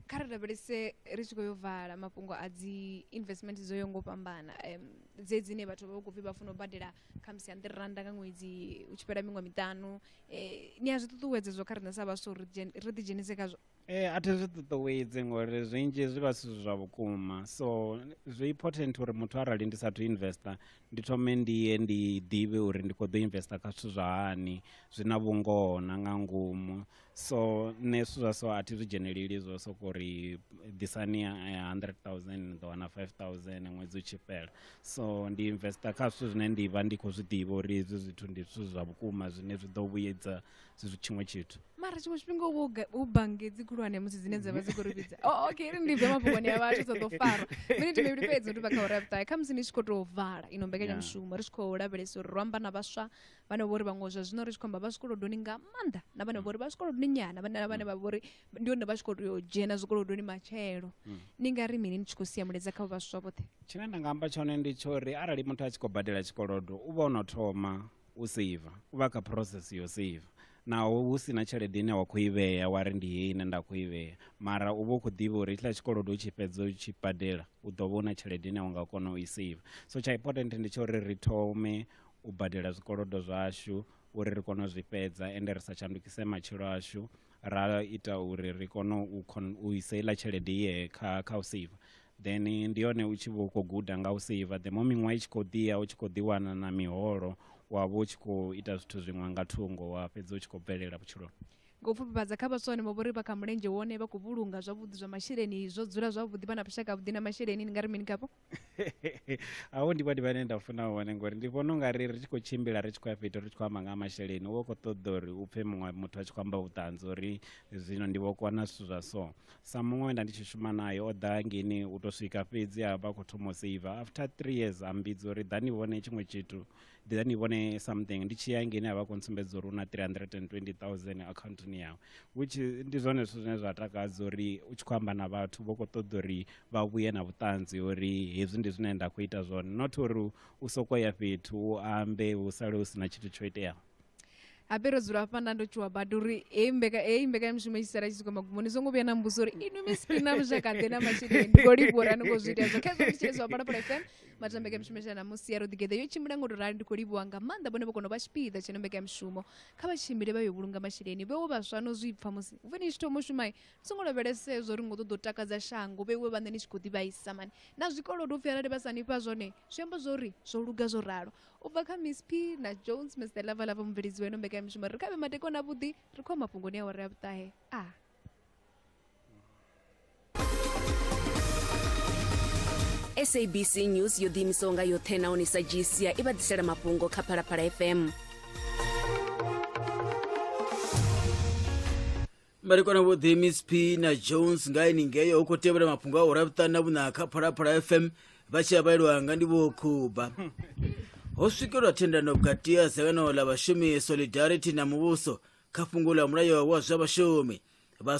kha ri lavhelese ri tshi khou yo vala mafhungo a dzi investment dzo yo ngo fhambana um, dze dzine vhathu vha vha khou pfi vha funa u badela khamusi ya nḓiri randa nga ṅwedzi u tshi fhela miṅwe miṱanu eh, ni a zwi ṱuṱuwedze zwo kha riṋe sa vhaswa uri ri dzhen- ri ḓidzhenise khazwo Eh, a thi zwi ṱuṱuwedzi ngori zwinzhi zwi vha zwi si zwa vhukuma so zwi important uri muthu arali ndi sathu investor ndi thome ndi ye ndi ḓivhe uri ndi khou ḓo investa kha zwithu zwa hani zwi na vhungoho na nga ngomu so nṋe zwithu zwa so a thi zwi dzheneleli zwo soko uri ḓisani hundred thousand ni ḓo wana five thousand ṅwedzi u tshi fhela so ndi investa kha zwithu zwine ndi vha ndi khou zwi ḓivha uri hezwi zwithu ndi zwithu zwa vhukuma zwine zwi ḓo vhuyedza zwi tshiṅwe tshithu mara tshiṅwe tshifhinga u vha u bange dzi khulwane musi dzine dza vha dzi khou ri vhidza oh, okay ri ndi bve mafhungoni ya vhathu dza ḓo fara miniti mivhili fhedzi ndi vha kha uri ya vhuṱahe khamusi ni tshi khou tou vala ino mbekanyamushumo ri tshi khou lavhelesa uri ro amba na vhaswa vhane vho ri vhaṅwe zwa zwino ri tshi khou amba vha zwikolodoni nga maanḓa na vhane vho ri vha zwikolodoni nyana vhane vhane vha vho ri ndi hone vha tshi khou tea u dzhena zwikolodoni matshelo hmm. ni nga ri mini ni tshi khou sia mulaedza kha vhaswa vhoṱhe tshine nda nga amba tshone ndi tsho ri arali muthu a tshi khou badela tshikolodo u vha o no thoma u seiva u vha kha process yo seiva naho hu sina tshelede ine wa khou i vhea wa ri ndi heyi ine nda khou i vhea mara u vha u khou ḓivha uri hetshiḽa tshikolodo u tshi fhedza u tshi badela u ḓo vha u na tshelede ine wa nga kona u i seiva so tsha important ndi tsha uri ri thome u badela zwikolodo zwashu uri ri kone u zwi fhedza ende ri sa shandukise matshilo ashu ra ita uri ri kone u u isa iḽa tshelede ye kha kha u save then ndi yone u tshi vho khou guda nga u save the more miṅwaha i tshi khou ḓiya u tshi khou ḓiwana na miholo wa vha u tshi khou ita zwithu zwiṅwe nga thungo wa fhedza u tshi khou bvelela vhutshiloni nga u pfufhifhadza kha vhaswa vhane vha vhori vha kha mulenzhe wone vha khou vhulunga zwavhuḓi zwa masheleni zwo dzula zwavhuḓi vha na vhushaka vhuḓi na masheleni ni nga ri mini khavho a hu ndi vhone vhane nda funa hone ngori ndi vhona unga ri ri tshi khou tshimbila ri tshi khou ya fhethu ri tshi khou amba nga masheleni u vha u khou ṱoḓa uri u pfhe muṅwe muthu a tshi khou amba vhuṱanzi uri zwino ndi vho kona zwithu zwa so sa muṅwe we nda ndi tshi shuma naye o ḓa ngeni u tou swika fhedzi a vha khou thoma u seiva after three years a mbidza uri ḓani vhone tshiṅwe tshithu ḓa ni vhone something ndi tshi ya ngeni a vha khou ntsumbedza uri u na 320000 akhaunthuni yawe which ndi zwone zwithu zwine zwa takadza uri u tshi khou amba na vhathu vho khou ṱoḓa uri vha vhuye na vhuṱanzi uri hezwi ndi zwine nda khou ita zwone not uri u sokou ya fhethu u ambe hu sale hu si na tshithu tsho iteaho habe ro dzula hafha nda ndo tshuwa badi uri heyi mbeka- heyi mbekanyamushumo i tshi sala i tshi swika magumoni zwo ngo vhuya na mbuso uri inwi miss ina mushakaḓe na masheleni ndi khou livhuwa uri a ni khou zwi ita hezwo khezwo ndi tshilezwa phalaphala fm matha mbekanyamushumo shana musi ya ro ḓigeḓa yo tshimbila ngo to rali ndi khou livhuwa nga maanḓa vhone vho kona u vha tshipiḓa tsheno mbekanyamushumo kha vha tshimbile vha yo vhulunga masheleni vhewo vhaswa no zwi pfa musi vhe ni tshi thoma u shumai so ngo lavhelesa hezwo uri ngo ṱoḓa u takadza shango vheiwe vhaṋe ni tshi khou ḓivhaisa mani na zwikolodo upfhi arali vha sa ni fha zwone zwi amba zwo ri zwo luga zwo ralo u bva kha miss p na jones miss the lava lava mubveledzi weno mbekanyamushumo ri khavhe madekwana avhuḓi ri khou mafhungoni a wari a vhuṱahe a sabc news yo ḓiimisaho nga yoṱhe nahone sa gcia i vha ḓisela mafhungo kha phalaphala fm marikwana vho the msp na jones nga ini ngeyo hu khou tevhela mafhungo a urabutani na vhuna kha phalaphala fm vha tshi avhaelwa nga ndi vho khuba ho swikelwa thendano vhukati ha dzangano ḽa vhashumi solidarity na muvhuso kha fhungo ḽa mulayo wa zwa vhashumi vha